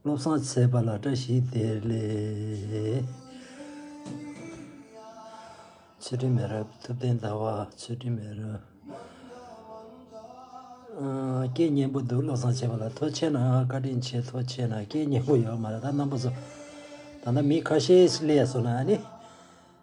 བློ་བཟང་ཚེ་དཔག་ལ་བཀྲ་ཤིས་བདེ་ལེགས། ཚུལ་ཁྲིམས་མེད་རབས་ཐུབ་བསྟན་དར་བ་ཚུལ་ཁྲིམས་མེད་རབས། སྐད་སྙན་པོ་འདུག་བློ་བཟང་ཚེ་དཔག་ལ་མཐོ་ཆེ་ན་བཀའ་དྲིན་ཆེ་མཐོ་ཆེ་ན་སྐད་སྙན་པོ་ཡོད་མ་རེད་ད་རྣམ་པ་ཚོ་ད་ལྟ་མི་ཁ་ཤས་ལས་སོང་ན་ནི།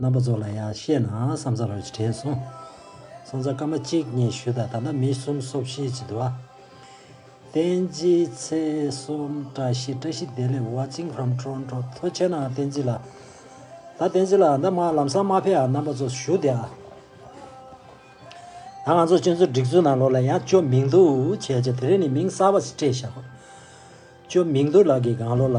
རྣམ་པ་ཚོ་ལ་ཡང་བཤད་ན་བསམ་ཚར་བ་ཞིག་དྲན་སོང། བསམ་ཚར་སྐར་མ་གཅིག་གཉིས་བཞུད་དང་ད་ལྟ་མི་གསུམ་སོ་བཞི་བྱེད་འདུག་ཨ། བསྟན་འཛིན་ཚེ་གསུམ་བཀྲ་ཤིས་བཀྲ་ཤིས་བདེ་ལེགས་བ་ཅིང་ཧྲམ་ཁྲོ་ཁྲོ་མཐོ་ཆེ་ན་བསྟན་འཛིན་ལ། ད་བསྟན་འཛིན་ལ་འདི་མ་ལམ་སང་མ་ཕེབས་ཨ་རྣམ་པ་ཚོ་བཞུགས་ཏེ་ཨ། ད་ང་ཚོ་སྤྱོད་ཚུལ་སྒྲིག་ཚུལ་ནང་ལོགས་ལ་ཡང་ཅོ་མིང་དུ་བྱས་ཅེས་དེ་རིང་ནས་མིང་གསར་བ་ཞིག་སྤྲད་བཞག་གོ། ཅོ་མིང་དུ་ལགས་ཀྱི་དགང་བློ་ལ།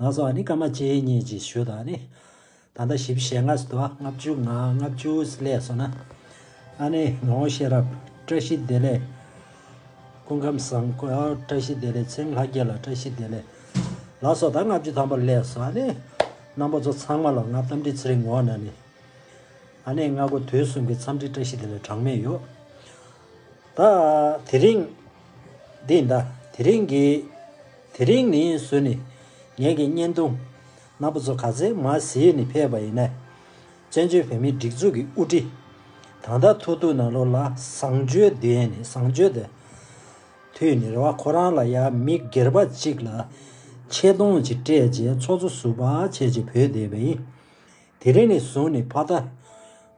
ལགས་སོ། ནི་སྐར་མ་བཅས་གཉིས་ཀྱི་ཞུ་དང་ནི། ད་ལྟ་བཞི་བཞི་ཞེ་ལྔ་སོ། ལྔ་བཅུ་ལྔ་ལྔ་བཅུ་ལས་སོ་ན། ཨ་ནི་ངོ་བོ་ཤེས་རབ་བཀྲ་ཤིས་བདེ་ལེགས། སྐུ་ཁམས་བཟང་པོ་བཀྲ་ཤིས་བདེ་ལེགས་ཚེ་ལྷ་རྒྱལ་ལ་བཀྲ་ཤིས་བདེ་ལེགས། ལགས་སོ། ད་ལྔ་བཅུ་ཐམ་པ་ལས་སོ། ཨ་ནི། རྣམ་པ་ཚོ་ཚང་མ་ལ་ང་གཏམ་དྲི་ཚི་རིང་ངོ་ན་ནི། ཨ་ནི་ལྔ་དགུ་དུས་གསུམ་གྱི་འཚམས་འདྲི་བཀྲ་ཤིས་བདེ་ལེགས་གྲངས་མེད་ཡོད། ད་དེ་རིང། འདི་ད་དེ་རིང་གི། དེ་རིང་ནི་སུ་ནི། ངེད་ཀྱི་བརྙན་ཐུང། ནག་པོ་ཚོ་ག་ཚེ་མ་ཟིག་ནི་ཕེབས་པ་ཡིན་ནས། བཙན་བྱོལ་བོད་མིའི་སྒྲིག་འཛུགས་ཀྱི་དབུ་ཁྲི། དང་ད་ཐུག་ཐུག་ནང་ལོག་ལ་བཟང་སྤྱོད་ལྡན་ནི་བཟང་སྤྱོད་ལྡན། དུས་ནི་རེ་བ་ཁོ་རང་ལ་ཡང་མི་སྒེར་པ་ཅིག་ལ། ཆེ་མཐོང་ཅིག་སྤྲད་རྗེས་ཚོགས་གཙོ་ཟུར་པ་བྱས་རྗེས་བོད་སྡེ་བའི། དེ་རིང་ནས་བཟུང་ནས་ཕ་ད།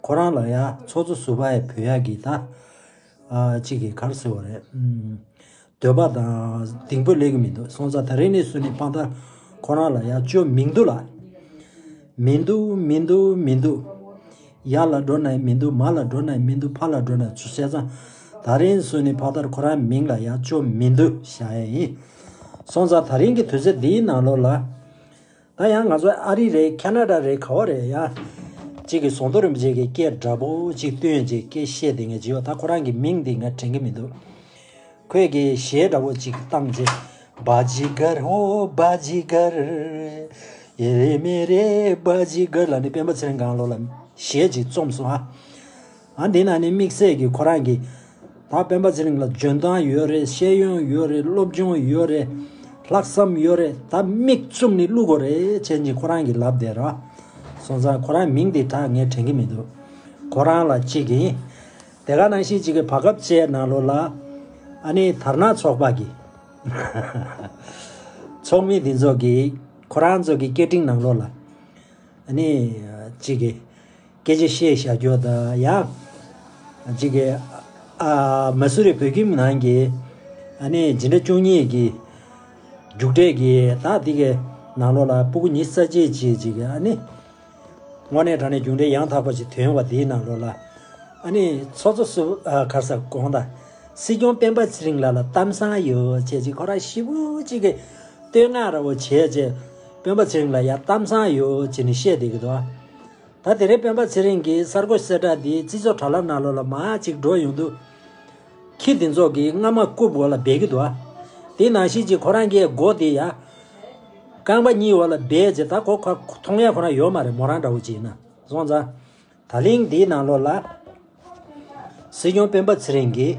ཁོ་རང་ལ་ཡ་ཚོགས་གཙོ་ཟུར་པ་ཡི་བུ་ཡ་གི་ད། གཅིག་གིས་གར་ཟེར་བ་རེད། འདོད་པ་དང་གདིང་བུ་ལེགས་གི་མི་འདུག་སོང་ཙང་ད་རིང་ནས་བཟུང་ནས་ཕ་ད། ཁོ་རང་ལ་ཡ་ཅོ་མིང་འདུག་ལ། མི་འདུག་མི་འདུག་མི་འདུག། ཡ་ལ་འགྲོ་ན་ཡི་མི་འདུག་མ་ལ་འགྲོ་ན་ཡི་མི་འདུག་ཕ་ལ་འགྲོ་ན་ཅོ་བྱས་ཙང། ད་རིང་ནས་བཟུང་ནས་ཕ་ད་ཁོ་རང་མིང་ལ་ཡ་ཅོ་མི་འདུག་བྱ་ཡ་ཡིན། སོང་ཙང་ད་རིང་གི་དུས་ཚོད་འདིའི་ནང་ལོགས་ལ། ད་ཡང་ང་ཚོ་ཨ་རི་རེད་ཁ་ན་ར་རེད་ག་བ་རེད་ཡ། ཅིག་གི་ཟོང་དོ་རིན་པོ་ཆེ་གི་སྐད་འདྲ་པོ་ཅིག་བསྟུན་ཡོད་ཅིག་སྐད་བཤད་དེ་ངས་ཇི་ཡོད་ད་ཁོ་རང་གི་མིང་འདི་ང་དྲན་གི་མི་འདུག་ཁོས་གི་གཞས་འདྲ་པོ་ཅིག་བཏང་རྗེས། Bajigar ho Bajigar། ཡེ་རེ་མེ་རེ Bajigar ལ་ནི་སྤེན་པ་ཚེ་རིང་གངས་ལོ་ལ་གཞས་ཅིག་རྩོམས་སོང་ཨ། ཨ་འདི་ན་ནི་དམིགས་བསལ་གྱི་ཁོ་རང་གི། ད་སྤེན་པ་ཚེ་རིང་ལ་འཇོན་ཐང་ཡོད་རེད་ཤེས་ཡོན་ཡོད་རེད་སློབ་སྦྱོང་ཡོད་རེད། ལྷག་བསམ་ཡོད་རེད་ད་མིག་བཙུམ་ནི་བསླུ་གོ་རེད་བྱས་ཉིན་ཁོ་རང་གི་ལབ་བསྡད་ར། སོང་ཙང་ཁོ་རང་མིང་དེ་དག་ངས་དྲན་གྱི་མི་འདུག་ཁོ་རང་ལ་གཅིག་ཡིན། དེ་ག་ནང་བཞིན་གཅིག་གི་བར་སྐབས་བཅས་གནང་ལོ་ལ། ཨ་ནི་དར་ནག་ཚོགས་པ་གི། ཚོགས་མི་དེ་ཚོ་གིས་ཁོ་རང་ཚོ་གི་སྐད་འཕྲིན་གནང་ལོ་ལ། ཨ་ནི་གཅིག་གི། སྐད་ཆ་བཤད་བཞག་རྒྱོ་ད་ཡ། འཇིག་གི། ཨ། མ་སུ་རི་བོད་ཁྱིམ་ནང་གི། ཨ་ནི་ཇི་འདྲ་བཅུ་གཉིས་ཀྱི། རྒྱུགས་འབྲས་ཀྱི་དག་འདི་གའི། ནང་ལོགས་ལ་སྤུ་གུ་ཉི་ས་བྱེད་ཅིག་འཇིག་གི་ཨ་ནི། སྔོ་ནས་དྲང་ནས་རྒྱུགས་འབྲས་ཡང་དག་པ་ཞིག་དོན་བ་འདིའི་ནང་ལོགས་ལ། ཨ་ནི་ཚོགས་གཙོ་སུ་ག་ས་གོང་དང། སྲིད་སྐྱོང་སྤེན་པ་ཚེ་རིང་ལགས་ལ་གཏམ་བཟང་ཡོད་བྱེད་ཅིག་ཁོ་རང་ཤི་བོ་གཅིག་གི། བསྟོད་བསྔགས་ར་བོ་བྱེད་བྱེད། སྤེན་པ་ཚེ་རིང་ལ་ཡ་གཏམ་བཟང་ཡོད་བྱེད་ནི་བཤད་བསྡད་གི་འདུག་ཨ། ད་དེ་རིང་སྤེན་པ་ཚེ་རིང་གིས་གསར་འགོད་གསལ་བསྒྲགས་འདིས་སྤྱི་ཚོགས་དྲ་ལམ་ནང་བློ་ལ་མ་ཅིག་འགྲོ་ཡོང་དུས། ཁྱི་དེ་ཚོ་གིས་རྔ་མ་རྐུབ་འོག་ལ་སྦས་ཀྱི་འདུག་ཨ། དེ་ནང་བཞིན་གྱི་ཁོ་རང་གི་མགོ་དེ་ཡང། རྐང་པ་གཉིས་འོག་ལ་སྦས་རྗེས་ད་ཁོ་ཁ་མཐོང་ཡ་ཁོ་རང་ཡོད་མ་རེད་མོ་རང་འདྲ་བོ་ཅིག་ཡིན་ན་སོང་ཙང། ད་གླིང་འདིའི་ནང་བློ་ལ། སྲིད་སྐྱོང་སྤེན་པ་ཚེ་རིང་གིས།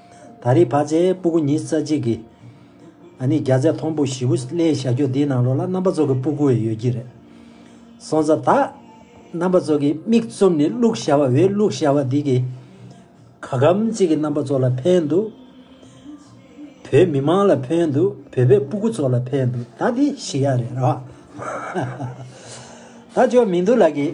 ད་རེས་བར་ཆད་སྤུ་གུ་ཉིས་བརྩེགས་གཅིག་གིས། ཨ་ནི་རྒྱ་ཚད་མཐོང་སྤུ་བཞི་བོ་སླའི་བྱ་ཁྱུ་འདིའི་ནང་ལོགས་ལ་རྣམ་པ་ཚོགས་ཀྱི་སྤུ་གུ་འི་ཡོད་ཀྱི་རེད། སོང་ཙ་ད། རྣམ་པ་ཚོགས་ཀྱི་མིག་བཙུམ་ནས་བླུགས་བྱ་བ་འི་བླུགས་བྱ་བ་འདི་གིས། ག་གམ་ཅིག་གིས་རྣམ་པ་ཚོགས་ལ་ཕན་འདུག། བོད་མི་མང་ལ་ཕན་འདུག་བོད་པའི་སྤུ་གུ་ཚོགས་ལ་ཕན་འདུག་ད་དེ་ཤི་ཡ་རེད་ར། ད་ཅོ་མིན་འདུག་ལགས་ཀྱི།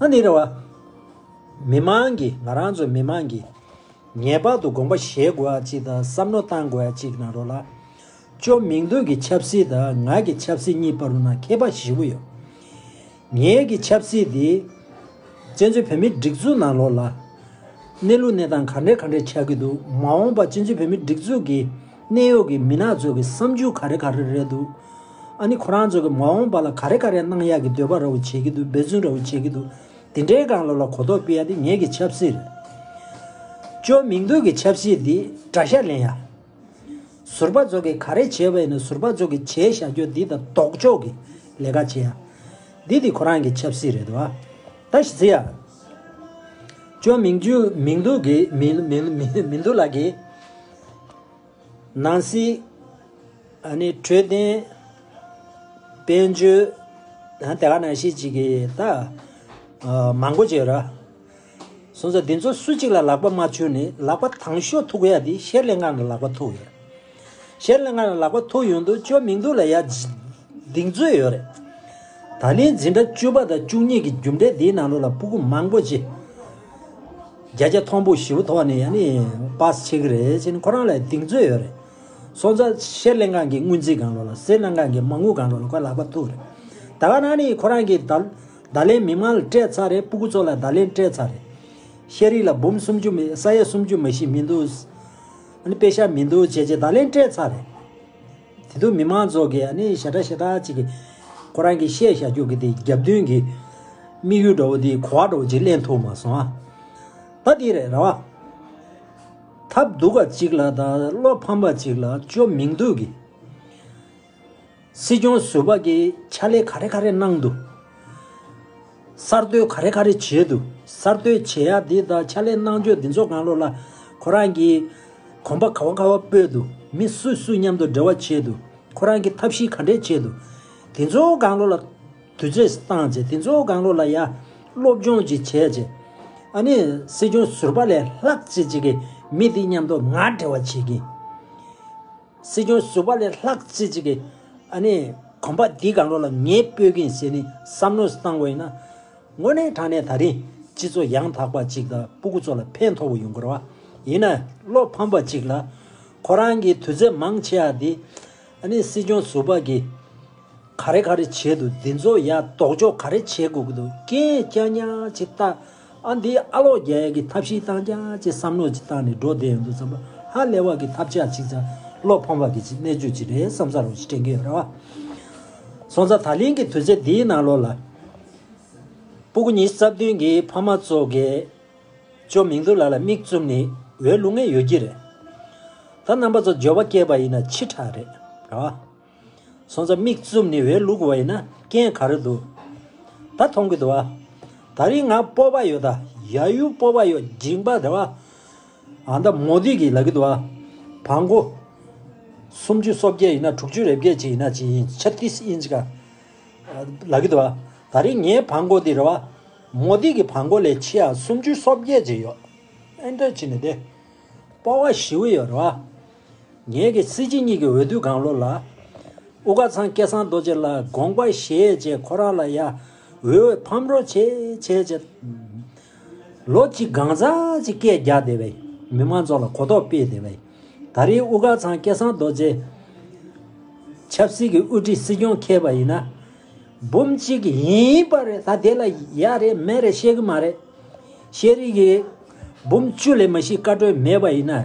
ཨ་ནི་རེ་བ། མི་དམངས་ཀྱིས་ང་རང་ཚོ་མི་དམངས་ཀྱིས་ངེས་པར་དུ་དགོངས་པ་བཞེས་དགོས་པ་གཅིག་དང་བསམ་བློ་བཏང་དགོས་པ་གཅིག་གནང་རོགས་ལགས། ཅོ་མིང་དོན་གྱི་ཆབ་སྲིད་དང་ང་གི་ཆབ་སྲིད་གཉིས་བར་ན་ཁྱད་པ་བཞི་བོ་ཡོད། ངེད་ཀྱི་ཆབ་སྲིད་དེ། བཙན་བྱོལ་བོད་མིའི་སྒྲིག་འཛུགས་ནང་ལོགས་ལ། གནས་ལུགས་གནས་སྟངས་ག་འདྲའི་ག་འདྲའི་ཆགས་ཀྱི་འདུག་མ་འོངས་པ་བཙན་བྱོལ་བོད་མིའི་སྒྲིག་འཛུགས་ཀྱི། གནས་གཡོག་གི་མི་ནག་ཚོད་ཀྱི་བསམ་ཇུས་ག་རེ་ག་རེ་རེད་འདུག་ཨ་ནི་ཁོ་རང་ཚོད་ཀྱི་མ་འོངས་པ་ལ་ག་རེ་ག་རེ་གནང་ཡག་གི་འདོད་པ་ར་བུ་བྱེད་ཀྱི་འདུག་འབད་བརྩོན་ར་བུ་བྱེད་ཀྱི་འདུག་དེ་འདྲའི་སྒང་ལོ་ལ་གོ་རྟོགས་སྤེལ་ཡ་དེ་ངེད་ཀྱི་ཆབ་སྲིད་རེད། བཅོས་མིང་འདོན་གྱི་ཆབ་སྲིད་འདི་དགྲ་ཤ་ལེན་ཡ། ཟུར་པ་ཚོད་ཀྱི་ག་རེ་བྱེད་པ་ཡིན་ན་ཟུར་པ་ཚོད་ཀྱི་བྱས་བཞག་རྒྱོ་འདི་དང་ལྡོག་ཕྱོགས་ཀྱི་ལས་ཀ་བྱེད་ཡ། འདི་དེ་ཁོ་རང་གྱི་ཆབ་སྲིད་རེད་བ། ད་ཞི་ཚེ་ཡ། བཅོས་མིང་འདོན་གྱི། ནང་སྲིད། འཕྲོད་བསྟེན། དཔལ་འབྱོར། དེ་ག་ནང་བཞིན་ཅིག་གི་ད། མང་པོ་བྱོས་ར། གསུངས་སོ། འདི་ཚོ་སུ་གཅིག་ལ་ལག་པ་མ་འཆོལ་ནི་ལག་པ་དང་ཤོ་ཐུག་གཡའ་འདི་ཤེར་ལེ་ངག་ལ་ལག་པ་ཐུག་ཡོད། ཤེར་ལེ་ངག་ལ་ལག་པ་ཐུག་ཡོང་དུ་ཅོ་མིང་དུ་ལ་ཡ། གདིང་ཚོད་ཡོད་རེད། ད་ནི་འཛིན་གྲྭ་བཅུ་པ་དང་བཅུ་གཉིས་ཀྱི་རྒྱུ་འབྲས་འདིའི་ནང་ལོ་ལ་སྤུ་གུ་མང་པོ་ཅི། བརྒྱ་ཆ་མཐོང་པོ་བཞི་བོ་ཐོག་ནས་ཡང་ནི་པཱས་ཆེ་གི་རེད་ཅེ་ནི་ཁོ་རང་ལ་གདེང་ཚོད་ཡོད་རེད། སོང་ཙང་ཤེར་གླིང་སྒང་གི་དངུལ་རྩིས་སྒང་རོ་ལ་སེར་སྣ་སྒང་གི་མ་དངུལ་སྒང་རོ་ལ་ཁོའི་ལག་པ་ཐུག་རེད། ད་ག་ནང་ནི་ཁོ་རང་གིས་ད་ལན་མི་མང་ལ་སྤྲད་ཚར་རེད་སྤུ་གུ་ཚོ་ལ་ད་ལན་སྤྲད་ཚར་རེད། ཤེས་རིག་ལ་འབུམ་སུམ་ཅུ་མི་ས་ཡ་སུམ་ཅུ་མ་བཞི་མི་འདུག། ཨ་ནི་དཔེ་ཤ་མི་འདུག་བྱས་བྱས་ད་ལན་སྤྲད་ཚར་རེད། དེ་དུས་མི་མང་ཚོགས་ཀྱིས་ནི་ཞེ་དྲག་ཞེ་དྲག་ཅིག་ཁོ་རང་གིས་བཤད་བཞག་རྒྱུགས་ཀྱི་དེ་རྒྱབ་མདུན་གྱི་དམིགས་ཡུལ་འདྲ་བོ་དེ་གོ་བ་འདྲ་བོ་ཅིག་གླེང་ཐུབ་མ་སོང། ད་དེ་རེད་ར་བ། ཐབས་སྡུག་པ་ཅིག་ལ་དང་བློ་ཕམ་པ་ཅིག་ལ་ཅོ་མིང་དུ་གི། སྲིད་སྐྱོང་ཟུར་པ་གིས་ཕྱག་ལས་ག་རེ་ག་རེ་གནང་འདུག། གསར་གཏོད་ག་རེ་ག་རེ་བྱས་འདུག་གསར་གཏོད་བྱས་ཡག་འདི་དང་ཕྱག་ལས་གནང་སྤྱོད་འདི་ཚོ་གང་ལོག་ལ། ཁོ་རང་གིས། གོམ་པ་ག་བ་ག་བ་སྤོས་འདུག་མི་སུ་སུ་མཉམ་དུ་འབྲེལ་བ་བྱས་འདུག་ཁོ་རང་གིས་ཐབས་ཤེས་ག་འདྲས་བྱས་འདུག་དེ་ཚོ་གང་ལོག་ལ། དུས་ཚོད་བཏང་རྗེས་དེ་ཚོ་གང་ལོག་ལ་ཡ། སློབ་སྦྱོང་ཅིག་བྱས་རྗེས། ཨ་ནི་སྲིད་སྐྱོང་ཟུར་པ་ལས་ལྷག་བྱེད་ཅིག་གིས་མི་དེ་མཉམ་དུ་ང་འབྲེལ་བ་བྱེད་ཀྱིན། སྲིད་སྐྱོང་ཟུར་པ་ལས་ལྷག་བརྩེ་ཅིག་གིས། ཨ་ནི། གོམ་པ་འདི་གང་རུང་ལ་ངས་སྤོས་ཀིན་ཟེར་ནས་བསམ་བློ་བཏང་དགོས་ན། དངོས་གནས་དྲང་གནས་ད་རིང་སྤྱི་ཚོགས་ཡང་དག་པ་ཅིག་དང་སྤུ་གུ་ཚོ་ལ་ཕན་ཐོགས་པ་ཡོང་དགོས་རེད། ཡིན་ན་བློ་ཕམ་པ་ཅིག་ལ། ཁོ་རང་གིས་དུས་ཚོད་མང་ཆེ་བ་འདི། ཨ་ནི་སྲིད་སྐྱོང་ཟུར་པ་གིས། ག་རེ་ག་རེ་བྱས་འདུག་འདི་ཚོ་ཡག་དོགས་འཇོག་ག་རེ་བྱེད་དགོས་ཀི་འདུག་སྐད་རྐྱང་རྐྱང་ཅིག་བཏགས། ཨ་འདི་ཨ་ལོག་རྒྱ་ཡག་གི་ཐབས་ཤེས་སྟངས་ཀྱང་ཅེས་བསམ་བློ་ཅིག་བཏང་ནས་འགྲོ་བསྡད་ཡོང་དུས་བསམ་བློ་ཧ་ལས་བ་གི་ཐབས་ཆག་ཅིག་ཙམ་བློ་ཕམ་བ་གི་ཅིག་གནད་གཅོད་ཅིག་རེད་བསམ་ས་རུང་ཞིག་དྲན་གྱི་ཡོད་ར་བ། སོང་ཙང་ད་ལིང་གི་དུས་ཚེ་འདིའི་ནང་ལོག་ལ། སྤུ་གུ་གཉིས་སྲབ་བདུན་གྱི་ཕ་མ་ཚོ་གས་ཅོ་མིང་དུ་ལ་ལ་མིག་བཙུམ་ནས་འོས་བླུག་ངེས་ཡོད་ཀྱི་རེད། ད་རྣམ་པ་ཚོ་འབྱོར་བ་སྐྱེས་པ་ཡིན་ན་ཕྱི་དྲག་རེད་ར་བ། སོང་ཙང་མིག་བཙུམ་ནས་འེ་ལུག་བ་ཡིན་ན་རྐྱེན་ག་རེ་འདུག་ད་མཐོང་གི་འདུག་ཨ། ད་རིང་ང་སྤོབས་པ་ཡོད་ད་ཡ་ཡུ་སྤོབས་པ་ཡོད་འཇིགས་པ་རེད་བ། ཨ་ད་མོ་དུས་ཀྱི་ལ་གི་འདུག་ཨ། བ་མགོ། སུམ་ཅུ་སོ་བརྒྱད་ཡིན་ན་དྲུག་ཅུ་རེ་བརྒྱད་ཅིག་ཡིན་ན་ཅིག་ཡིན་ཆ་ཏིས་ཨིན་ཅིག་ཨ། ལ་གི་འདུག་ཨ། ད་རིང་ངའི་བ་མགོ་དེ་རེད་བ། མོ་དུས་ཀྱི་བ་མགོ་ལས་ཆེ་ཡ་སུམ་ཅུ་སོ་བརྒྱད་ཅིག་ཡོད། ཨེ་འདྲ་ཅིག་ནི་དེ། སྤོ་བ་བཞི་བོ་ཡོད་རེད་བ། ངེད་ཀྱི་སྲིད་སྤྱི་གཉིས་ཀྱི་འོས་བསྡུ་གང་ལོ་ལ། དབུ་དགའ་ཚང་སྐལ་བཟང་རྡོ་རྗེ་ལ་དགོངས་པ་བཞེས་རྗེས་ཁོ་རང་ལ་ཡང་འོས་ཕམ་རོགས་བྱེད་བྱེད་ཅེས། ལོ་གཅིག་སྒང་རྩ་གཅིག་སྐད་རྒྱག་བདེ་བའི་མི་མང་ཚོགས་ལ་གོ་རྟོགས་སྤེལ་བདེ་བའི། ད་རེའི་དབུ་དགའ་ཚང་སྐལ་བཟང་རྡོ་རྗེ། ཆབ་སྲིད་ཀྱི་དབུ་ཁྲིད་སྲིད་སྐྱོང་མཁས་པ་ཡིན་ན། འབུམ་གཅིག་ཡིན་པ་རེད་ད་དེ་ལ་ཡ་རེད་མེད་རེད་བཤད་གི་མ་རེད། ཤེས་རིག་གི། འབུམ་བཅུ་ལས་མ་ཤི་བཀའ་གྲོས་མེད་པ་ཡིན་ན།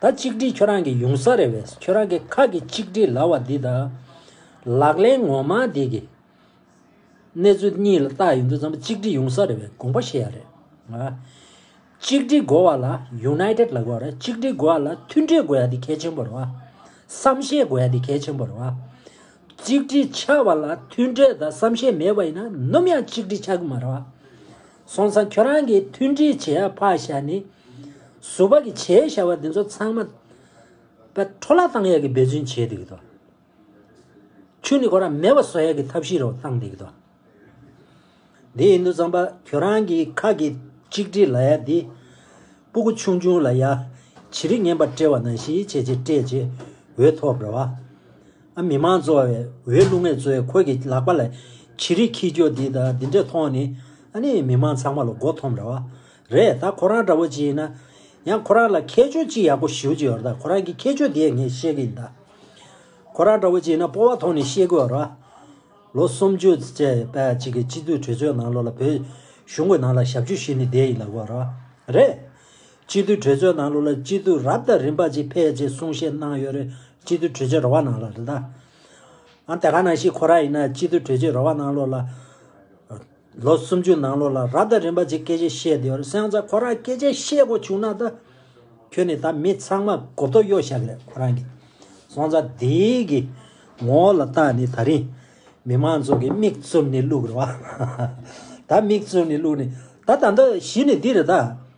ད་གཅིག་སྒྲིལ་ཁྱོད་རང་གི་ཡོང་ས་རེད་བས་ཁྱོད་རང་གི་ཁ་གི་གཅིག་སྒྲིལ་ལ་བ་འདི་དང། ལག་ལེན་ངོ་མ་འདི་གི། གནས་ཚུལ་གཉིས་ལ་བལྟ་ཡོང་དུས་ཙམ་གཅིག་སྒྲིལ་ཡོང་ས་རེད་བས་དགོངས་པ་བཞེས་ཡ་རེད། གཅིག་སྒྲིལ་དགོས་བ་ལ United ལ་དགོས་རེད་གཅིག་སྒྲིལ་དགོས་བ་ལ་མཐུན་སྒྲིལ་དགོས་ཡ་འདི་གལ་ཆེན་པོ་རེད་བ། བསམ་ཤེས་དགོས་ཡ་འདི་གལ་ཆེན་པོ་རེད་བ། གཅིག་སྒྲིལ་ཆགས་བ་ལ་མཐུན་སྒྲིལ་དང་བསམ་ཤེས་མེད་བ་ཡིན་ན་ནུམ་ཡང་གཅིག་སྒྲིལ་ཆགས་གི་མ་རེད་བ། སོང་ཙང་ཁྱོད་རང་གིས་མཐུན་སྒྲིལ་བྱེད་ཨ་ཕ་ཞེས་ནི། ཟུར་བ་གི་བྱའི་བྱ་བ་འདི་ཚོ་ཚང་མ། པའི་འཕྲོ་བརླག་བཏང་ཡག་གི་འབད་བརྩོན་བྱེད་འདུག་གི་དོ། ཆུ་ནི་གོ་ར་མེད་པ་བཟོ་ཡག་གི་ཐབས་ཤེས་རོགས་བཏང་འདུག་གི་དོ། དེ་ཡིན་དུ་ཙང་པ་ཁྱོད་རང་གིས་ཁག་གི་གཅིག་སྒྲིལ་ལ་ཡག་འདི། སྤུ་གུ་ཆུང་ཆུང་ལ་ཡག། བྱི་རི་ངན་པ་སྤྲེལ་བ་ནང་བཞིན་བྱས་རྗེས་སྤྲད་རྗེས་འོད་ཐོབ་རེད་བ། མི་དམངས་གཙོ་བའི་འོས་བླུགས་མེད་ཚོས་ཁོ་གི་ལག་པ་ལ་ཇི་རིགས་ཁྱི་སྐྱོ་འདི་དང་འདི་འདྲས་མཐོང་ནི། ཨ་ནི་མི་དམངས་ཚང་མ་ལ་མགོ་འཐོམ་རེད་བ། རེད་ད་ཁོ་རང་འདྲ་བོ་ཅི་ཡིན་ན། ཡང་ཁོ་རང་ལ་ཁྱད་ཆོས་ཅི་ཡག་པོ་ཞིའུ་ཅི་ཡོད་རད་ཁོ་རང་གི་ཁྱད་ཆོས་དེ་ངས་བཤད་གི་ཡིན་ད། ཁོ་རང་འདྲ་བོ་ཅི་ཡིན་ན་སྤོ་བ་ཐོག་ནས་བཤད་གི་ཡོད་ར། ལོ་སུམ་ཅུ་བཅས་པའི་གཅིག་གི་སྤྱི་འཐུས་གྲོས་ཚོའི་ནང་ལོག་ལ་བོད་གཞུང་གི་ནང་ལ་ཞབས་ཞུ་ཞུས་ནས་བསྡད་ཡིན་ལ་གོ་ར། རེད། སྤྱི་འཐུས་གྲོས་ཚོགས་ནང་ལུགས་ལ་སྤྱི་འཐུས་རབ་དང་རིམ་པ་གཅིག་ཕེབས་ཅེས་གསུང་བཤད་གནང་ཡོད་རེད་སྤྱི་འཐུས་གྲོས་ཆོད་རོ་བ་ནང་ལ་རེད་ད། ཨང་དེ་ག་ནང་བཞིན་ཁོ་ར་ཡིན་ན་སྤྱི་འཐུས་གྲོས་ཆོད་རོ་བ་ནང་ལོ་ལ། ལོ་སུམ་ཅུ་ནང་ལོ་ལ་རབ་དང་རིམ་པ་གཅིག་སྐད་ཆ་བཤད་དེ་ཡོད་རེད་སེང་ཚ་ཁོ་རང་སྐད་ཆ་བཤད་དགོས་བྱུང་ན་ད། ཁྱོད་ནི་ད་མི་ཚང་མ་གོ་བསྡོ་གཡོ་བཞག་རེད་ཁོ་རང་གི་སོང་ཚ་དེ་གི་ངོ་ལ་ལྟ་ནི་ད་རིང་མི་མང་ཚོ་གི་མིག་བཙུམ་ནི་ལུགས་རེད་བ། ད་མིག་བཙུམ་ནི་ལུགས་ནི་ད་ད་ད་གཞི་ནི་འདི་རེད་ད།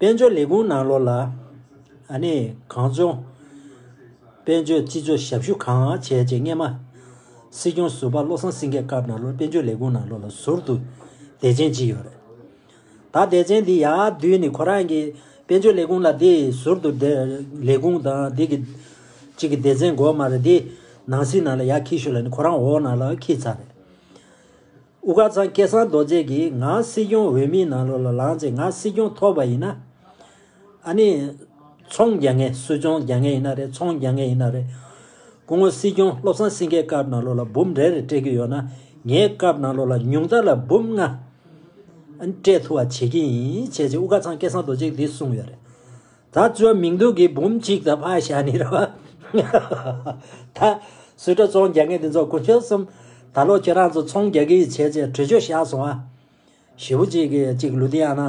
དཔལ་འབྱོར་ལས་ཁུངས་ནང་ལོགས་ལ། གངས་ལྗོངས་དཔལ་འབྱོར་སྤྱི་སྤྱོད་ཞབས་ཞུ་གང་བྱས་ཀྱི་རྔན་མ། སྲིད་སྐྱོང་ཟུར་པ་བློ་བཟང་སེང་གེས་སྐབས་ནང་ལོགས་དཔལ་འབྱོར་ལས་ཁུངས་ནང་ལོགས་ལ་ཟུར་དུ་དད་ཅན་གཅིག་ཡོད་རེད། ད་དད་ཅན་དེ་ཡར་བསྡུས་ནས་ཁོ་རང་གི་དཔལ་འབྱོར་ལས་ཁུངས་ལ་དེ་ཟུར་དུ་དད་ལས་ཁུངས་དང་དེ་གི་གཅིག་གི་དད་ཅན་འགོ་མ་རེད་དེ། ནང་སྲིད་ནང་ལ་ཡར་འཁྱིལ་ཤོས་ལ་ནི་ཁོ་རང་འོག་ནང་ལ་འཁྱིལ་ཚར་རེད། དབུ་དཀར་ཚང་སྐལ་བཟང་རྡོ་རྗེ་གིས་ང་སྲིད་སྐྱོང་འོས་མིའི་ནང་ལོགས་ལ་ལངས་ཚེ་ང་སྲིད་སྐྱོང་ཐོབ་པ་ཡིན་ན། ཨ་ནི། ཚོང་རྒྱག་ངེས་སུད་ཚོང་རྒྱག་ངེས་ཡིན་ན་རེད་ཚོང་རྒྱག་ངེས་ཡིན་ན་རེད། སྐུ་ངོ་སྲིད་སྐྱོང་བློ་བཟང་སེང་གེ་སྐབས་ནང་ལོགས་ལ་འབུམ་རེ་རེ་སྤྲད་རྒྱུ་ཡོད་ན་ངའི་སྐབས་ནང་ལོགས་ལ་ཉུང་མཐར་ལ་འབུམ་ལྔ། ཨ་ནི། སྤྲད་ཐུབ་བ་བྱེད་ཀྱི་ཡིན་བྱས་རྗེས་དབུ་དཀར་ཚང་སྐལ་བཟང་རྡོ་རྗེ་འདིས་གསུངས་ཡོད་རེད། ད་བཅོས་མིང་འདུག་གི་འབུམ་གཅིག་ད་ཕག་ཞྭ་ནི་ར་བ། ད། སུས་དྲ་ཚོང་རྒྱག་མཁན་དེ་ཚོ་གོ་ཁྱོད་གསུམ། ད་ལོ་ཁྱོད་རང་ཚོ་ཚོང་རྒྱག་གི་ཡིན་བྱས་བྱས་གྲོས་ཆོད་བཞག་སོང་ཨ། ཞེ་བོ་གཅིག་གིས་གཅིག་ལུ་ཏི་ཨ་ན།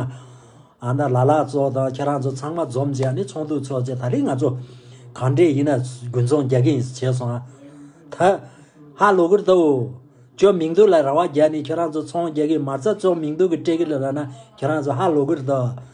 ཨ་ན་ལ་ལ་ཚོ་དང་ཁྱོད་རང་ཚོ་ཚང་མ་འཛོམས་བྱས་ནི་ཚོང་དུག་ཚོགས་བྱས་ད་རིང་ང་ཚོ། གང་འདྲས་ཡིན་ན་དགུན་ཚོང་རྒྱག་གི་ཡིན་བྱས་སོང་ཨ། ད། ཧ་ལོ་གུར་ཏོ། བཅོས་མིང་འདུག་ལ་ར་བ་བརྒྱ་ནི་ཁྱོད་རང་ཚོ་ཚོང་རྒྱག་གི་མ་རྩ་བཅོས་མིང་འདུག་གི་སྤྲེལ་གི་ལ་ར་ན་ཁྱོད་རང་ཚོ་ཧ་ལོ་གུར་ཏོ།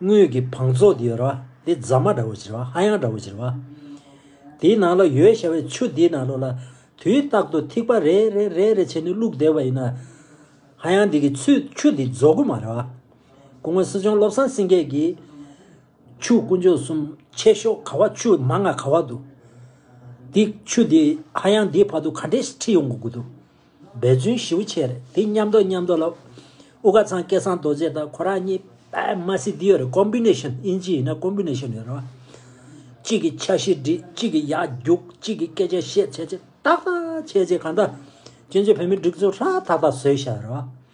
དངུལ་གྱི་བང་ཚོགས་དེ་ཡོད་ར་བ་དེ་རྫ་མ་འདྲ་བོ་བྱེད་ར་བ་ཧ་ཡང་འདྲ་བོ་བྱེད་ར་བ། དེའི་ནང་ལ་ཡོད་ཤ་བའི་ཆུ་དེའི་ནང་ལོག་ལ། དུས་རྟག་ཏུ་ཐིགས་པ་རེ་རེ་རེ་རེ་བྱས་ནས་བླུགས་བསྡད་པ་ཡིན་ན། ཧ་ཡང་དེ་གི་ཚུལ་ཆུ་དེ་རྫོགས་གི་མ་ར་བ། སྐུ་ངོ་སྲིད་སྐྱོང་བློ་བཟང་སེང་གེ་གིས། ཆུ་དཀོན་མཆོག་གསུམ་ཆེ་ཤོག་ག་བ་ཆུ་མ་ང་ག་བ་འདུག། དེ་ཆུ་དེ་ཧ་ཡང་དེའི་བར་དུ་ག་འདྲས་ཁྲིད་ཡོང་དགོས་དགོས་འདུག། འབད་བརྩོན་ཞིབ་བོ་བྱས་རེད་དེ་མཉམ་འདོགས་མཉམ་འདོགས་ལ། ཨུ་ཀ་ཚང་སྐལ་བཟང་རྡོ་རྗེ་དང་ཁོ་རང་གཉིས་པདྨ་སི་ཏི་ཡོད་རེད Combination དབྱིན་ཇི་ཡིན་ན Combination ཡོད་རེད། གཅིག་གིས་འཆར་གཞི་བསྒྲིགས་གཅིག་གིས་ཡག་རྒྱུགས་གཅིག་གིས་སྐད་ཆ་བཤད་བྱས་རྗེས་ཏག་ཏག་བྱས་རྗེས་གང་ལྟར། བཙན་བྱོལ་བོད་མིའི་སྒྲིག་འཛུགས་ཧྲ་ཐག་ཐག་བཟོས་ཤག་རེད།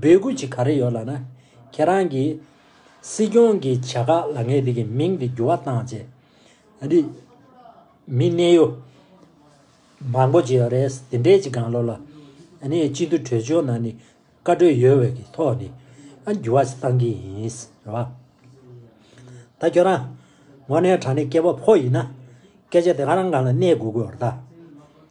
འབོད་སྐུལ་ཅིག་ག་རེ་ཡོད་ལགས་ན། ཁྱེད་རང་གིས། སྲིད་སྐྱོང་གི་བྱ་དགའ་ལ་ངས་དེ་གི་མིང་དེ་འགྱུར་བ་བཏང་རྗེས། རི། མི་གནས་ཡུལ། མང་པོ་ཅིག་ཡོད་རེད། དེ་འདྲའི་ཅིག་གང་ལོག་ལ། སྤྱི་འཐུས་གྲོས་ཆོད་ནང་ནས། བཀའ་གྲོས་ཡོད་བའི་གི་ཐོག་ནས། འགྱུར་བ་ཅིག་བཏང་གི་ཡིན། རེད་བ། ད་ཁྱོད་རང། ངོ་ནས་དྲང་ནས་སྐྱེ་བ་ཕོ་ཡིན་ན། སྐད་ཆ་དེ་ག་རང་གང་ལ་གནས་དགོས་དགོས་རེད་ད།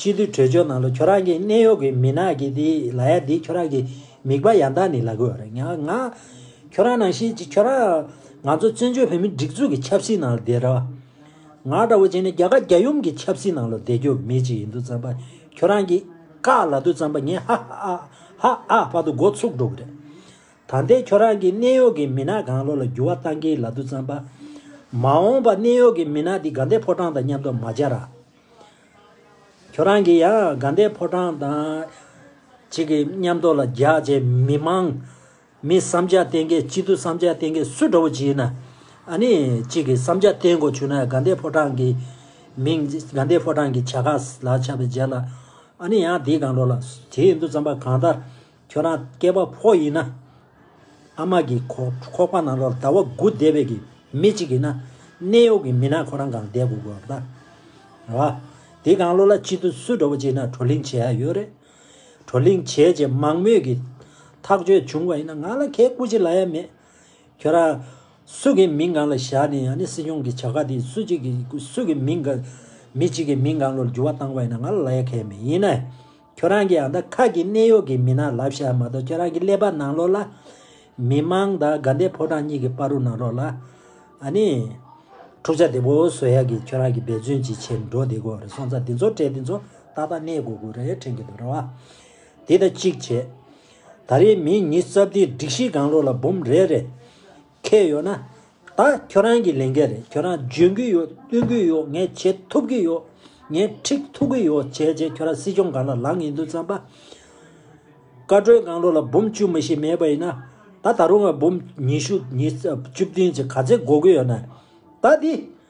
སྤྱི་འཐུས་གྲོས་ཆོད་ནང་ལ་ཁྱོད་རང་གི་གནས་ཡོག་གི་མི་ནག་གི་དེ་ལ་ཡ་དེ་ཁྱོད་རང་གི་མིག་པ་ཡང་དག་ནི་ལ་གོ་རེད་ཡང་ང། ཁྱོད་རང་ནང་བཞིན་གྱི་ཁྱོད་རང། ང་ཚོ་བཙན་བྱོལ་བོད་མི་སྒྲིག་འཛུགས་ཀྱི་ཆབ་སྲིད་ནང་ལ་བསྡད་ར། ང་འདྲ་བོ་བྱས་ནས་རྒྱ་གར་རྒྱ་ཡུམ་གྱི་ཆབ་སྲིད་ནང་ལ་བསྡད་རྒྱུ་མེད་ཅིག་ཡིན་དུ་བརྩམས་པ་ཁྱོད་རང་གི། ཀ་ལ་དུ་བརྩམས་པ་ངས་ཧ་ཧ་ཨ་ཧ་ཨ་ཧ་ཨ་དུ་འགོ་ཚུགས་འགྲོ་གི་རེད། ད་ལྟའི་ཁྱོད་རང་གི་གནས་ཡོག་གི་མི་ནག་གང་ལོག་ལ་འགྱུར་བ་གཏང་གི་ལ་དུ་བརྩམས་པ། མ་འོངས་པ་གནས་ཡོག་གི་མི་ནག་དེ་དགའ་ལྡན་ཕོ་བྲང་དང་མཉམ་དུ་མ་བྱ་ར། ཁྱོད་རང་གིས་ཡང་དགའ་ཟླའི་ཕོ་བྲང་དང། གཅིག་གི་མཉམ་རྡོ་ལ་རྒྱག་བྱེད་མི་དམངས། མི་བསམ་འཆར་བསྟན་མཁན་སྤྱི་འཐུས་བསམ་འཆར་བསྟན་མཁན་སུ་འདྲ་བོ་བྱས་ན། ཨ་ནི་གཅིག་གི་བསམ་འཆར་བསྟན་དགོས་བྱུང་ན་དགའ་ཟླའི་ཕོ་བྲང་གི་མིང། དགའ་ཟླའི་ཕོ་བྲང་གི་བྱ་དགའ་ལ་ཆགས་པའི་རྗེས་ལ། ཨ་ནི་ཡང་དེའི་སྒང་རོ་ལ། དེའི་འདུ་འཛོམས་པ་གང་ལྟར། ཁྱོད་རང་སྐྱེས་པ་ཕོ་ཡིན་ན། ཨ་མ་གི་ཁོག་པ་ནང་ལོར་ཟླ་བ་དགུ་བསྡད་པའི་གི་མི་གཅིག་ཡིན་ན། གནས་ཡོག་གི་མི་ནག་ཁོ་རང་གང་བསྡད་དགོས་དགོས་རེད། རེད་བ། དེ་གང་ལོ་ལ་གཅིག་ཏུ་སུས་གྲོ་བོ་བྱས་ན་གྲོ་གླིང་བྱས་ཡ་ཡོད་རེད། གྲོ་གླིང་བྱས་བྱས་མང་མོས་གི་ཐག་གཅོད་བྱུང་བ་ཡིན་ན་ང་ལ་ཁའི་སྐུ་ཅི་ལ་ཡ་མེད། ཁྱོད་རང། སུ་གི་མིང་གང་ལ་བཞག་ནས་ཡང་ནི་སྲིད་སྐྱོང་གི་བྱ་དགའ་དེ་སུ་གཅིག་གི་སུ་གི་མིང་གི། མི་གཅིག་གི་མིང་གང་ལོར་འགྱུར་བ་བཏང་བ་ཡིན་ན་ང་ལ་ལ་ཡ་ཁའི་མེད་ཡིན་ན། ཁྱོད་རང་གིས་ཨ་མདའ་ཁག་གི་གནད་གཡོག་གི་མི་ནག་ལབ་ཤག་མ་གཏོགས་ཁྱོད་རང་གི་ཀླད་པ་ནང་ལོག་ལ། མི་དམངས་དང་དགའ་ལྡན་ཕོ་བྲང་གཉིས་ཀྱི་དཔའ་རུ་ནང་ལོག་ལ། ཨཱ་ནི། འཁྲུག་ཆ་དེ་པོ་བཟོ་ཡག་གི་ཁྱོད་རང་གི་འབད་བརྩོན་ཅིག་བྱེད་འགྲོ་བདེ་གོ་རེད་སོང་ཙང་འདི་ཚོ་གྲས་འདི་ཚོ་ཏག་ཏག་གནས་དགོས་དགོས་རེད་ཁྲེང་གི་འདུག་རེད་བ། དེ་ད་གཅིག་བྱས། ད་རེས་མིའི་མྱི་རྩ་བདེ་སྒྲིག་གཞི་གང་ལོག་ལ་འབུམ་རེད་རེད། ཁེལ་ཡོད་ན། ད་ཁྱོད་རང་གི་ལས་འགན་རེད་ཁྱོད་རང་འཇོན་གི་ཡོད་སྟོན་གི་ཡོད་ངས་བྱེད་ཐུབ་གི་ཡོད། ངས་འཁྲིད་ཐུབ་གི་ཡོད་བྱས་རྗེས་ཁྱོད་རང་སྲིད་སྐྱོང་སྒང་ལ་ལངས་ཡིན་དུས་བརྩམས་པ། བཀའ་བགྲོས་སྒང་རོ་ལ་འབུམ་བཅུ་མི་ཞིག་མེད་པ་ཡིན་ན། ད་ད་རུང་བ་འབུམ་ཉི་ཤུ་ཉིས་བཅུ་བདུན་ཅིག་ག་ཚད་འགོ་གི་ཡོད་ན། ད་འདི།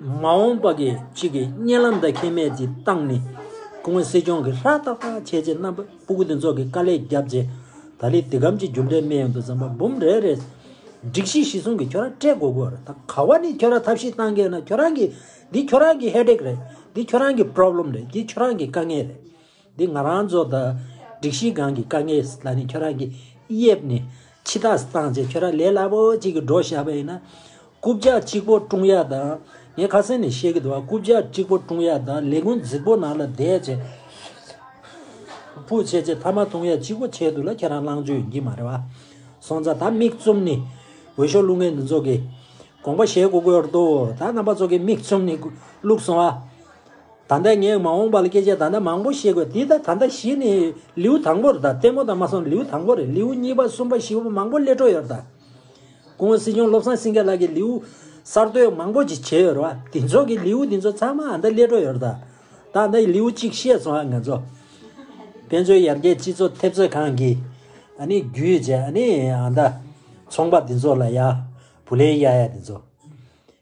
མ་འོངས་པ་གི་ཅིག་གི་བརྙན་ལམ་དང་ཁེ་མེད་ཀྱི་སྟངས་ནི། ཁོང་མོས་སྲིད་སྐྱོང་གི་ཧྲ་ཏག་ཏག་བྱས་རྗེས་རྣམ་པ་སྤུ་གུ་དེ་ཚོགས་ཀྱི་དཀའ་ལས་བརྒྱབ་རྗེས། ད་ལི་ཏི་གམ་གྱི་རྒྱུགས་འབྲས་མེད་ཡོང་དུ་བརྩམས་པ་འབུམ་རེ་རེད། སྒྲིག་གཞི་གཞི་བཟུང་གིས་ཁྱོད་རང་སྤྲད་དགོས་དགོས་རེད། ད་ག་བ་ནས་ཁྱོད་རང་ཐབས་ཤེས་གཏང་གི་ན་ཁྱོད་རང་གི། འདི་ཁྱོད་རང་གི headache རེད། འདི་ཁྱོད་རང་གི problem རེད། འདི་ཁྱོད་རང་གི་དཀའ་ངལ་རེད། འདི་ང་རང་ཚོ་དང་སྒྲིག་གཞི་སྒང་གི་དཀའ་ངལ་ལ་ནི་ཁྱོད་རང་གི་དབྱེབས་ནས་ཕྱི་ཐག་བསྲང་རྗེས་ཁྱོད་རང་ལས་སླ་པོ་ཅིག་གིས་འགྲོ་བཞག་པ་ཡིན་ན། རྐུབ་བཀྱག་གཅིག་པོ་བཀྲུང་ཡག་དང། ངས་ཁ་གསལ་ནས་བཤད་ཀྱི་འདུག་བ་རྐུབ་བཀྱག་གཅིག་པོ་བཀྲུང་ཡག་དང་ལས་ཀུན་རྫིག་པོ་ནང་ལ་བསྡད་རྗེས། ཕུགས་བྱས་རྗེས་མཐའ་མ་བཏུང་ཡག་གཅིག་པོ་བྱས་འདུག་ལ་ཁྱོད་རང་བླང་བྱོལ་ཡིན་གྱི་མ་རེད་བ། སོང་ཙང་ད་མིག་བཙུམ་ནས་འོས་ཤོག་བླུག་ངེས་འདུག་ཚོགས་ཀྱིས་དགོངས་པ་བཞེས་དགོས་ཀྱི་འདུག་ད་རྣམ་པ་ཚོགས་ཀྱིས་མིག་བཙུམ་ནས་བླུག་སོང་བ། ད་ལྟ་ངས་མ་འོངས་པ་ལ་སྐད་ཆ་ད་ལྟ་མང་པོ་བཤད་དགོས། འདི་ལྟར་ད་ལྟ་གཞི་ནི་ལེའུ་དང་པོར་ད་ལྟད་མོ་དང་མ་སོང་ལེའུ་དང་པོ་རེད་ལེའུ་གཉིས་པ་གསུམ་པ་བཞི་པ་མང་པོ་ཀླད་སྤྲོ་ཡོད་རེད་ད། གོང་སྲིད་སྐྱོང་བློ་བཟང་སེང་གེ་ལགས་ཀྱིས་ལེའུ་གསར་གཏོད་མང་པོ་ཅིག་བྱས་ཡོད་རེད་བ། དེ་ཚོ་གི་ལེའུ་དེ་ཚོ་ཚང་མ་ཨ་མདའ་ཀླད་སྤྲོ་ཡོད་རེད་ད། ད་ལྟ་ལེའུ་གཅིག་བཤད་སོང་ཨ་ང་ཚོ། དཔེ་མཛོད་ཡར་རྒྱས་སྤྱི་ཚོགས་ཐེབས་རྩ་ཁང་གིས་ཨ་ནི་བརྒྱུད་བྱས་ཨ་ནི་ཨ་མདའ་ཚོང་པ་དེ་ཚོ་ལ་ཡ་བུ་ལེན་ཡ་ཡ་དེ་ཚོ།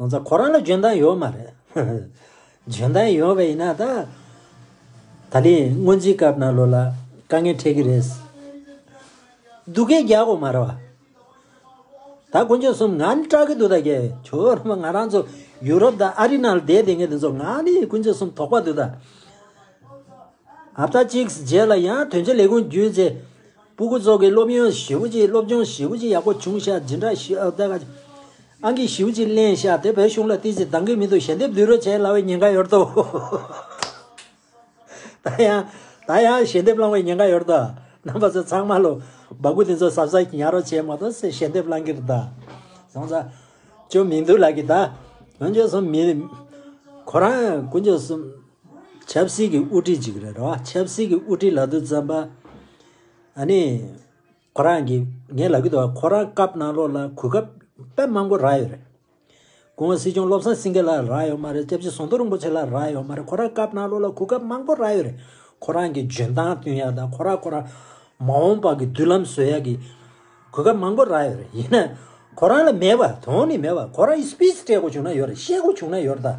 ང་ཚ་ཁོ་རང་ལ་འཇོན་ཐང་ཡོད་མ་རེད། འཇོན་ཐང་ཡོད་པ་ཡིན་ན་ད། ད་ལིས་སྔོན་རྩིས་སྐབས་ན་ལོ་ལ་དཀའ་ངལ་འཕྲད་ཀི་རེད། སྡུག་སྐད་རྒྱག་གོ་མ་རེད་བ། ད་དཀོན་མཆོག་གསུམ་ང་ནི་སྐྲག་གི་འདུག་ད་རྒྱལ་བྱོལ་རོ་མ་ང་རང་ཚོ་ཡུ་རོབ་དང་ཨ་རི་ནང་ལ་བསྡད་དེ་ངས་དེ་ཚོ་ང་ནི་དཀོན་མཆོག་གསུམ་དོག་པ་འདུག་ད། ཧབ་ཏཱ་གཅིག་བརྒྱད་ལ་ཡང་དོན་གཅིག་ལས་ཀུན་བརྒྱུད་རྗེ་སྤུ་གུ་སོགས་ཀྱི་སློབ་ཡོན་བཞི་བོ་གཅིག་སློབ་སྦྱོང་བཞི་བོ་གཅིག་ཡག་པོ་བྱུང་ཤག་ཇི་འདྲ་ཞིག་ཨབ་ཏཱ་ཨང་གིས་བཞི་བོ་གཅིག་གླེང་ཤག་དེ་བོད་གཞུང་ལ་བསྟི་ཅི་འདང་གི་མི་འདུག་ཞལ་འདེབས་བསྡུས་རོགས་བྱས་སླ་བའི་ཉེན་ཁ་ཡོད་དོ། ད་ཡང་ད་ཡང་ཞལ་འདེབས་བསླང་བའི་ཉེན་ཁ་ཡོད་དོ། རྣམ་པ་ཚོ་ཚང་མ་ལོ་འབག་གུ་དེ་ཚོ་གཟབ་གཟབ་ཉར་རོགས་བྱས་མ་གཏོགས་སེ་ཞལ་འདེབས་བསླང་གི་རེད་དཱ། བཟང་ས། ཅོ་མིང་འདུག་ལགས་གི་དཱ། བོན་ཆོས་གསུམ་མི། གོ་རང། ཀུན་ཆོས་གསུམ། ཆབ་སྲིད་ཀྱི་དབུ་ཁྲིད་ཅིག་རེད་རོགས། ཆབ་སྲིད་ཀྱི་དབུ་ཁྲིད་ལ་དུ་བཙན་པ། ཨ་ནི། ཁོ་རང་གིས་ངའི་ལབ་ཀྱི་འདུག་ཁོ་རང་སྐབས་ནང་ལོགས་ལ་གོ་སྐབས་དཔེ་མང་པོ་རག་ཡོད་རེད། ཁོང་སྲིད་སྐྱོང་བློ་བཟང་སེང་གེ་ལ་རག་ཡོད་མ་རེད་སྐྱབས་རྗེ་ཟོང་ཐོ་རིན་པོ་ཆེ་ལ་རག་ཡོད་མ་རེད་ཁོ་རང་སྐབས་ནང་ལོགས་ལ་གོ་སྐབས་མང་པོ་རག་ཡོད་རེད། ཁོ་རང་གི་འཇོན་ཐང་བསྟུན་ཡག་དང་ཁོ་རང་ཁོ་རང། མ་འོངས་པ་གི་མདུན་ལམ་བཟོ་ཡག་གི། གོ་སྐབས་མང་པོ་རག་ཡོད་རེད་ཡིན་ན། ཁོ་རང་ལ་མེད་པ་དོན་ནི་མེད་པ་ཁོ་རང་གིས་སྤིས་སྤྲད་དགོས་བྱུང་ན་ཡོད་རེད་བཤད་དགོས་བྱུང་ན་ཡོད་རེད་ད།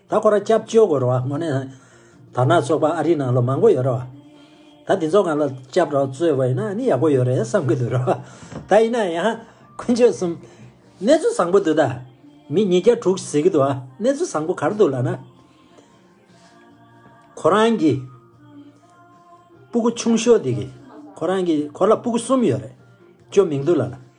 ད་ཁོ་ར་སྐྱབས་བཅོལ་དགོས་རོགས་ངོ་ནས་དར་ནག་ཚོགས་པ་ཨ་རི་ནང་ལོ་མང་པོ་ཡོད་རོགས་ད་འདི་ཚོ་གང་ལ་སྐྱབས་རོགས་བཙོས་བ་ཡིན་ན་ནི་ཡག་པོ་ཡོད་རེད་བསམ་གི་འདུག་རོགས་ད་ཡིན་ན་ཡང་ཀུན་སྤྱོད་གསུམ་གནས་ཚུལ་བཟང་པོ་འདུག་ད་མི་ཉིས་བརྒྱ་དྲུག་ཟེར་གི་འདུག་གནས་ཚུལ་བཟང་པོ་གར་འདུག་ལ་ན་ཁོ་རང་གི་སྤུ་གུ་ཆུང་ཤོས་དེ་གི་ཁོ་རང་གི་ཁོ་ལ་སྤུ་གུ་གསུམ་ཡོད་རེད་ཅོ་མིང་འདུག་ལ་ན།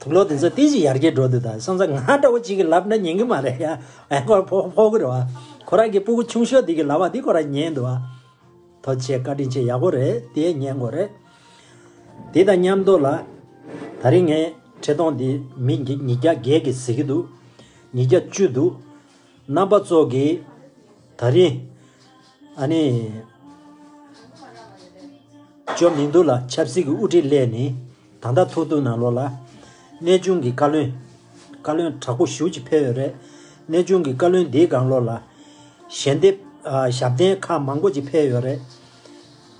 དུག་ལོག་དེ་ཚོ་ཏིལ་གྱི་ཡར་གྱི་སྒྲོ་དེ་དང་སོང་ཙང་ང་ལྟ་བུ་ཅིག་གིས་ལབ་ན་ཉན་གི་མ་རེད་ཡ། ཨེ་ཁོ་ཕོ་ཕོ་གུ་རེད་བ། ཁོ་རང་གི་སྤུ་གུ་ཆུང་ཤོས་དེ་གིས་ལབ་བ་དེ་ཁོ་རང་ཉན་འདུག་བ། ཐོ་ཆེ་བཀའ་དྲིན་ཆེ་ཡག་པོ་རེད་དེ་ཉན་དགོས་རེད། དེ་དང་མཉམ་དུ་ལ། ད་རིང་ངས་ཁྲི་སྟོང་དེ་མི་ཉིས་བརྒྱ་བརྒལ་གི་ཟེར་གི་འདུག་ཉིས་བརྒྱ་བཅུ་འདུག། རྣམ་པ་ཙོག་གི། ད་རིང། ཨ་ནི། ཅོ་མི་འདུག་ལ་ཆབ་སྲིད་ཀྱི་དབུ་ཁྲིད་སླད་ནི། ད་ལྟ་ཐོག་ཏུ་ནང་ལོགས་ལ། གནས་ཆུང་གི་བཀའ་བློན། བཀའ་བློན་དྲག་པོ་བཞུགས་ཀྱི་ཕེབས་ཡོད་རེད། གནས་ཆུང་གི་བཀའ་བློན་དེའི་སྒང་ལོགས་ལ། ཞལ་འདེབས། ཞབས་བརྟན་ཁག་མང་པོ་ཅིག་ཕེབས་ཡོད་རེད།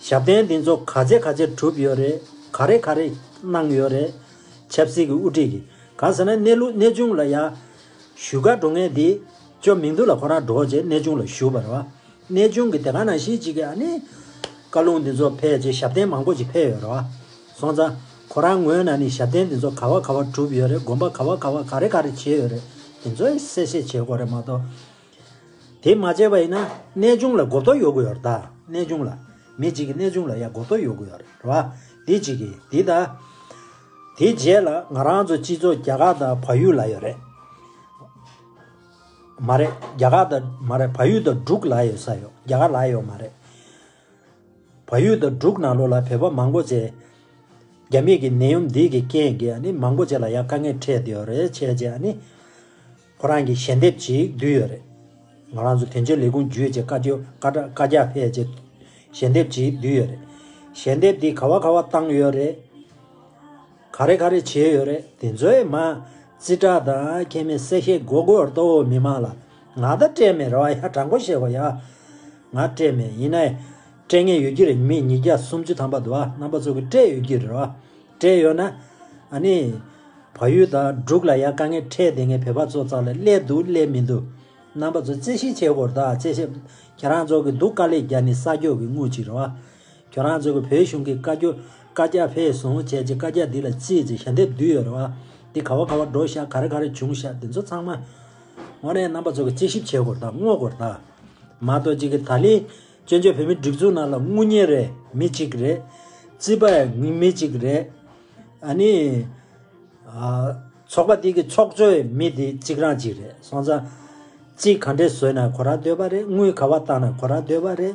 ཞབས་བརྟན་དེ་ཚོ་ག་ཚད་ག་ཚད་གྲུབ་ཡོད་རེད། ག་རེ་ག་རེ་གནང་ཡོད་རེད། ཆབ་སྲིད་ཀྱི་དབུ་ཁྲིད་ཀྱི། གང་ཟེར་ན་གནས་ལུགས་གནས་ཆུང་ལ་ཡ། བཞུགས་སྒར་འགྲོ་ངེས་དེ། ཅོ་མིང་དུ་ལ་ཁོ་རང་འགྲོ་ཅེས་གནས་ཆུང་ལ་བཞུགས་པ་རེད་བ། གནས་ཆུང་གི་དེ་ག་ནང་ཤེས་ཅིག་གི་ཨ་ནི། བཀའ་ལུང་དེ་ཚོ་ཕེབས་རྗེས་ཞབས་བརྟན་མང་པོ་ཅིག་ཕེབས་ཡོད་རེད་བ། སོང་ཙང། ཁོ་རང་ངོས་ན་ནི་ཞབས་བརྟན་འདི་ཚོ་ག་བ་ག་བ་གྲུབ་ཡོད་རེད་དགོན་པ་ག་བ་ག་བ་ག་རེ་ག་རེ་བྱས་ཡོད་རེད་དེ་ཚོའི་གསལ་བཤད་བྱེད་དགོས་རེད་མ་གཏོགས། དེ་མ་བྱས་པ་ཡིན་ན་གནས་ཆུང་ལ་སྒོ་བསྟོད་ཡོད་དགོས་ཡོད་རེད་ད་གནས་ཆུང་ལ། མི་གཅིག་གིས་གནས་ཆུང་ལ་ཡ་སྒོ་བསྟོད་ཡོད་དགོས་ཡོད་རེད་རེད་བ། འདི་གཅིག་གིས་འདི་ད། དེ་རྗེས་ལ་ང་རང་ཚོ་སྤྱི་ཚོགས་རྒྱ་གར་དང་བལ་ཡུལ་ལ་ཡོད་རེད། མ་རེད་རྒྱ་གར་དང་མ་རེད་བལ་ཡུལ་དང་འབྲུག་ལ་ཡོད་ས་ཡོད་རྒྱ་གར་ལ་ཡོད་མ་རེད། བ་ཡུལ་དང་འབྲུག་ནང་ལོགས་ལ་བོད་པ་མང་པོ་བྱས། རྒྱ་མིས་ཀྱི་ནད་ཡོམ་འདིས་ཀྱི་རྐྱེན་གྱིས་ནི་མང་པོ་བྱས་ལ་ཡང་དཀའ་ངལ་འཕྲད་ཡོད་རེད་བྱས་རྗེས་ནི། ཁོ་རང་གིས་ཞལ་འདེབས་ཅིག་བསྡུས་ཡོད་རེད། ང་རང་ཚོ་དོན་གཅོད་ལས་ཁུངས་བརྒྱུད་ཅེས་བཀའ་རྒྱ་ཕེབས་རྗེས་ཞལ་འདེབས་ཅིག་བསྡུས་ཡོད་རེད། ཞལ་འདེབས་འདིས་ག་བ་ག་བ་བཏང་ཡོད་རེད། ག་རེ་ག་རེ་བྱས་ཡོད་རེད་དེ་ཚོའི་མ། རྩིས་ཁྲ་དང་ཁྱད་མེད་གསལ་བཤད་དགོས་དགོས་ལྟོ་བོ་མི་མང་ལ། ང་ད་སྤྲད་མེད་རེ་བ་ཡ་དྲག་པོ་བྱས་བ་ཡ། ང་སྤྲད་མེད་ཡིན་ནའི། སྤྲད་ངེས་ཡོད་ཀྱི་རེད་མི་ཉིས་བརྒྱ་སུམ་ཅུ་ཐམ་པ་དུ་བ་རྣམ་པ་ཚོ་གི་སྤྲད་ཡོད་ཀྱི་རེད་བ། སྤྲད་ཡོད་ན། ཨ་ནི། བ་ཡུལ་དང་འབྲུག་ལ་ཡ་དཀའ་ངལ་འཕྲད་དེ་ངའི་བོད་པ་ཚོ་ཙག་ལ་སླེད་འདུག་སླེད་མི་འདུག། རྣམ་པ་ཚོ་རྩེ་ཤི་བྱས་བོར་དག་རྩེ་ཤི། ཁྱེད་རང་ཚོ་གི་འདུག་དཀའ་ལས་རྒྱ་ནི་ས་སྐྱོ་གི་དངུལ་ཅིག་རེད་བ། ཁྱོད་རང་ཚོས་བོད་གཞུང་གི་བཀའ་འགྱུར་བཀའ་རྒྱ་བྷེ་བཟུང་བྱས་ཀྱི་བཀའ་རྒྱ་འདི་ལ་ཅིས་ཅིས་ཞལ་འདེབས་བསྡུས་ཡོད་རེད་བ། འདི་ག་བ་ག་བ་འགྲོ་བཞག་ག་རེ་ག་རེ་བྱུང་བཞག་འདི་ཚོ་ཚང་མ། དངོས་གནས་རྣམ་པ་ཚོ་གི་དཔྱད་ཞིབ་བྱེད་དགོས་ར་དངོས་དགོས་ར། མ་གཏོགས་ཅིག་གི་ད་ལི། བཙོན་བྱོལ་བོད་མི་སྒྲིག་འཛུགས་ནང་ལ་དངུལ་གཉེར་རེ་མི་གཅིག་གི་རེད། རྩིས་པ་ཡ་ངི་མི་གཅིག་གི་རེད། ཨ་ནི། ཚོགས་པ་འདི་གི་ཚོགས་གཙོ་ཡི་མི་འདི་གཅིག་རང་གཅིག་རེད་སོང་ཙང། རྩིས་ག་འདྲེ་བཟོས་ན་གོ་ར་སྡོད་པ་རེད་དངུལ་ག་བ་བཏང་ན་གོ་ར་སྡོད་པ་རེད།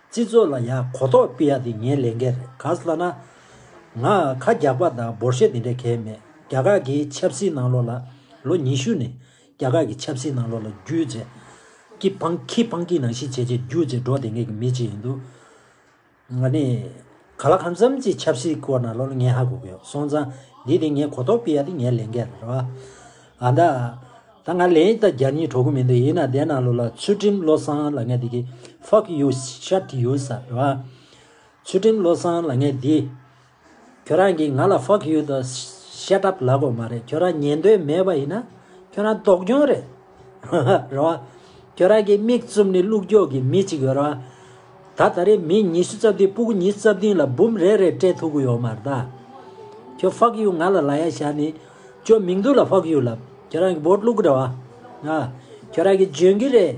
སྤྱི་ཚོགས་ལ་ཡག་གོ་རྟོགས་སྤེལ་ཡག་དེ་ངའི་ལས་འགན་རེད་ག་ས་ལ་ན། ང་ཁ་རྒྱག་པ་དང་འབོར་ཤེས་དེ་འདྲ་གལ་མེད་རྒྱ་གར་གྱི་ཆབ་སྲིད་ནང་ལོགས་ལ་ལོ་ཉི་ཤུ་ནས་རྒྱ་གར་གྱི་ཆབ་སྲིད་ནང་ལོགས་ལ་རྒྱུད་རྗེ། ཀི་ཕང་ཁི་ཕང་ཀི་ནང་བཞིན་བྱས་བྱས་རྒྱུད་རྗེ་འགྲོ་བསྡད་མཁན་གྱི་མི་གཅིག་ཡིན་འདུག་ང་ནི། ག་ལ་གང་འཚམ་གྱི་ཆབ་སྲིད་སྐོར་ན་ལོ་ལ་ངས་ཧ་གོ་གི་ཡོད་སོང་ཙང། འདི་དེ་ངས་གོ་རྟོགས་སྤེལ་ཡ་དེ་ངའི་ལས་འགན་རེད། ཨ་མདའ། ད་ང་ལན་ཡིག་ད་རྒྱ་གཉིས་གྲོ་གུ་མི་འདུག་ཡིན་ན་དེ་ན་ལོ་ལ་ཚུལ་ཁྲིམས་བློ་བཟང་ལ་ངས་འདི་གི། Fuck you shut you ས་རེད། ཚུལ་ཁྲིམས་བློ་བཟང་ལ་ངས་འདི། ཁྱོད་རང་གིས་ང་ལ Fuck you དང Shut up ལབ་དགོས་མ་རེད་ཁྱོད་རང་ཉན་འདོད་མེད་པ་ཡིན་ན། ཁྱོད་རང་ལྡོག་རྒྱུན་རེད། རེད་བ། ཁྱོད་རང་གི་མིག་བཙུམ་ནས་ཀླུ་སྒྱོགས་ཀྱི་མི་གཅིག་ཡོད་རེད་བ། ད་ད་རེས་མི་ཉི་ཤུ་རྩ་བདུན་སྤུ་གུ་ཉིས་རྩ་བདུན་ལ་འབུམ་རེ་རེ་སྤྲད་ཐུག་གི་ཡོད་མ་རེད་ད། ཁྱོད་བྷག་ཡུ་ང་ལ་ལ་ཡ་བཞག་ནས། ཁྱོད་མིང་སྡུག་ལ་བྷག་ཡུ་ལབ། ཁྱོད་རང་གི་བོད་ལུག་རེད་བ། ཁྱོད་རང་གི་འཇོན་གི་རེད།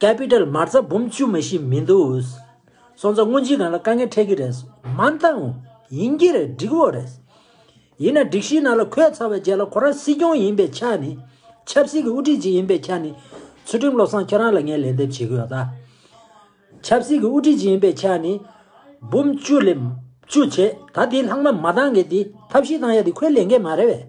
Capital མར་རྩ་འབུམ་བཅུ་མ་བཞི་མི་འདུག་འུ། སོང་ཙང་དངོས་གཞིའི་སྒང་ལ་དཀའ་ངལ་འཕྲད་ཀྱི་རེད། མ་འདང། ཡིན་གྱི་རེད་འགྲིག་བོ་རེད། ཡིན་ན་སྒྲིག་གཞིའི་ནང་ལ་འཁོད་ཚར་བའི་རྗེས་ལ་ཁོ་རང་སྲིད་སྐྱོང་ཡིན་པའི་ཆ་ནས། ཆབ་སྲིད་ཀྱི་དབུ་ཁྲིད་ཅིག་ཡིན་པའི་ཆ་ནས། ཚུལ་ཁྲིམས་བློ་བཟང་ཁྱེད་རང་ལ་ངས་ལན་འདེབས་བྱེད་ཀྱི་ཡོད་ད། ཆབ་སྲིད་ཀྱི་དབུ་ཁྲིད་ཅིག་ཡིན་པའི་ཆ་ནས། འབུམ་བཅུ་ལས། བཅུ་བྱས་ད་དེའི་ལྷག་མ་མ་འདང་གི་དེ་ཐབས་ཤེས་བཏང་ཡ་དེ་ཁོའི་ལས་འགན་མ་རེད་བས།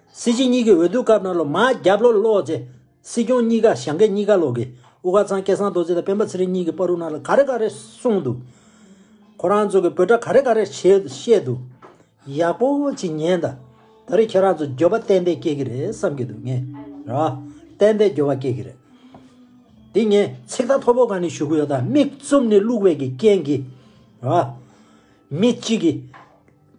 སྲིད་སྤྱི་གཉིས་ཀྱི་འོས་བསྡུ་སྐབས་ན་ལོ་མ་རྒྱབ་ལོ་ལོག་རྗེས། སྲིད་སྐྱོང་གཉིས་ཀ་ཞང་སྐད་གཉིས་ཀ་ལོག་གིས་དབུ་ཁ་ཚང་སྐལ་བཟང་རྡོ་རྗེ་དང་སྤེན་པ་ཚེ་རིང་གཉིས་ཀྱི་པར་རུ་ནང་ལ་ག་རེ་ག་རེ་གསུངས་འདུག་ཁོ་རང་ཚོ་གི་བོད་སྒྲ་ག་རེ་ག་རེ་བཤད་འདུག་ཡག་པོ་ཅིག་ཉན་ད། ད་རེས་ཁྱེད་རང་ཚོ་འགྱོད་པ་ཏན་ཏན་སྐྱེ་གི་རེད་བསམ་གྱི་འདུག་ངས་ར། ཏན་ཏན་འགྱོད་པ་སྐྱེ་གི་རེད། འདི་ངས་ཚིག་ཐ་ཐོ་པོ་ག་ནས་ཞུ་གི་ཡོད་ད་མིག་བཙུམ་ནས་བླུགས་བས་ཀྱི་རྐྱེན་གྱིས་ར། མི་གཅིག་གིས།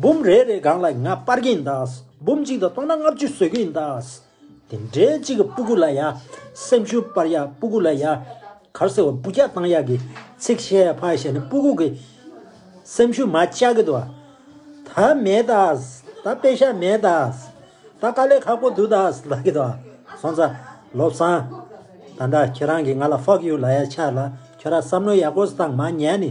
འབུམ་རེ་རེའི་སྒང་ལ་ང་སྤར་གྱིན་གདའ། འབུམ་གཅིག་དང་སྟོང་ན་ལྔ་བཅུ་བཟོད་ཀྱིན་གདའ། དེ་འདྲའི་གཅིག་གི་སྤུ་གུ་ལ་ཡ། སེམས་ཤུགས་སྤར་ཡ་སྤུ་གུ་ལ་ཡ། གར་སེ་བ་སྤུ་རྒྱག་བཏང་ཡག་གི། ཚིག་བཤད་ཕ་བཤད་ནི་སྤུ་གུ་གི། སེམས་ཤུགས་མ་ལྕག་གི་དུ། ད་མེད་གདའ། ད་དཔེ་ཞག་མེད་གདའ། ད་དཀའ་ལས་ཁག་པོ་འདུག་གདའ་ལགས་གི་དུ། སོང་ཙ། ལོ་བཟང། ད་འདྲ་ཁྱེད་རང་གིས་ང་ལ fuck you ལ་ཡ་ཆ་ལ་ཁྱོད་ར་བསམ་བློ་ཡག་པོ་བཏང་མ་ཉན་ནི།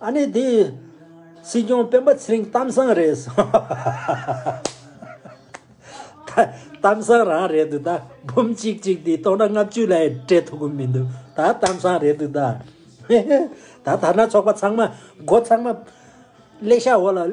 ཨ་ནི་དེ། སྲིད་སྐྱོང་སྤེན་པ་ཚེ་རིང་གཏམ་བཟང་རེད་གཏམ་བཟང་རང་རེད་འདུག་ད་འབུམ་གཅིག་གཅིག་དེ་གཏོང་ན་ལྔ་བཅུ་ལས་སྤྲད་ཐུབ་ཀྱི་མི་འདུག་ད་གཏམ་བཟང་རེད་འདུག་ད་ད་ཐ་ན་ཚོགས་པ་ཚང་མ་སྒོ་ཚང་མ་ཀླད་ཤག་འོག་ལ།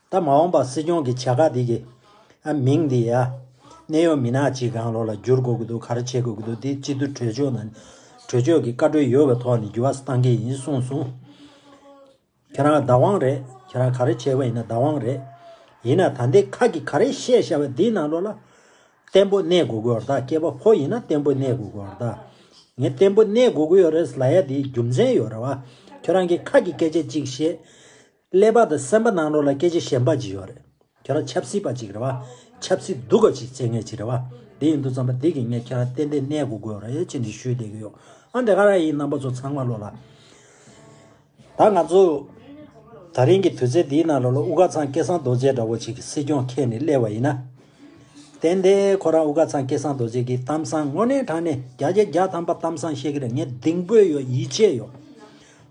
ད་མ་འོངས་པ་སྲིད་སྐྱོང་གི་བྱ་དགའ་དེ་གི། ཨ་མིང་དེ་ཡ། གནས་ཡོ་མི་ནག་ཅིག་གང་ལོག་ལ་བསྒྱུར་དགོས་ཀྱི་འདུག་ག་རེ་བྱེད་དགོས་ཀྱི་འདུག་དེ་སྤྱི་འཐུས་གྲོས་ཆོད་ནང། གྲོས་ཆོད་ཀྱི་བཀའ་འཁྲོལ་ཡོད་པའི་ཐོག་ནས་བསྒྱུར་བ་གཏང་གི་ཡིན་གསུངས་སོང། ཁྱེད་རང་བདག་དབང་རེད་ཁྱེད་རང་ག་རེ་བྱེད་པ་ཡིན་ན་བདག་དབང་རེད། ཡིན་ན་ད་ལྟའི་ཁ་གི་ག་རེ་བཤད་བཤད་པ་དེ་ནང་ལོག་ལ། བརྟན་པོ་གནས་དགོས་ཀྱི་ཡོ་རྟགས་སྐྱེས་པ་ཕོ་ཡིན་ན་བརྟན་པོ་གནས་དགོས་ཀྱི་ཡོ་རྟགས། ངས་བརྟན་པོ་གནས་དགོས་ཀྱི་ཡོ་རེད་ལ་ཡ་དེའི་རྒྱུ་མཚན་ཡོ་རེད་བ། ཁྱེད་རང་གི་ཁ་གི་སྐད་ཆ་གཅིག་བཤད། ཀླད་པ་དང་སེམས་པ་ནང་རོ་ལ་སྐད་ཆ་ཞན་པ་ཅིག་ཡོད་རེད། ཁྱེད་རང་ཆབ་སྲིད་པ་ཅིག་རེད་བ། ཆབ་སྲིད་སྡུག་ག་ཅིག་བྱེད་མཁན་ཅིག་རེད་བ། དེ་ཡིན་དུ་བརྩམས་པ་འདི་གིས་ངས་ཁྱེད་རང་ཏན་ཏན་གནས་སྒུག་དགོས་རེད་ཅེས་འདྲི་ཞུས་བསྡད་ཀྱི་ཡོད། ཨ་འདྲེ་ཁ་ར་ཡིས་རྣམ་པ་ཚོ་ཚང་མ་བློ་ལ། ད་ང་ཚོ། ད་རིང་གི་དུས་ཚོད་འདིའི་ནང་རོ་ལ་དབུ་དགའ་ཚང་སྐལ་བཟང་རྡོ་རྗེ་འདྲ་བོ་ཅིག་གིས་སྲིད་སྐྱོང་ཁྱེར་ནས་སླེབས་བ་ཡིན་ན། ཏན་ཏན་ཁོ་རང་དབུ་དགའ་ཚང་སྐལ་བཟང་རྡོ་རྗེ་གིས་གཏམ་བཟང་དངོས་གནས་དྲངས་ནས་རྒྱ་རྒྱ་རྒྱ་ཐམ་པ་གཏམ་བཟང་བཤད་ཀྱི་རེད་ངས་གདིང་སྤོས་ཡོད་ཡིད་ཆེས་ཡོད།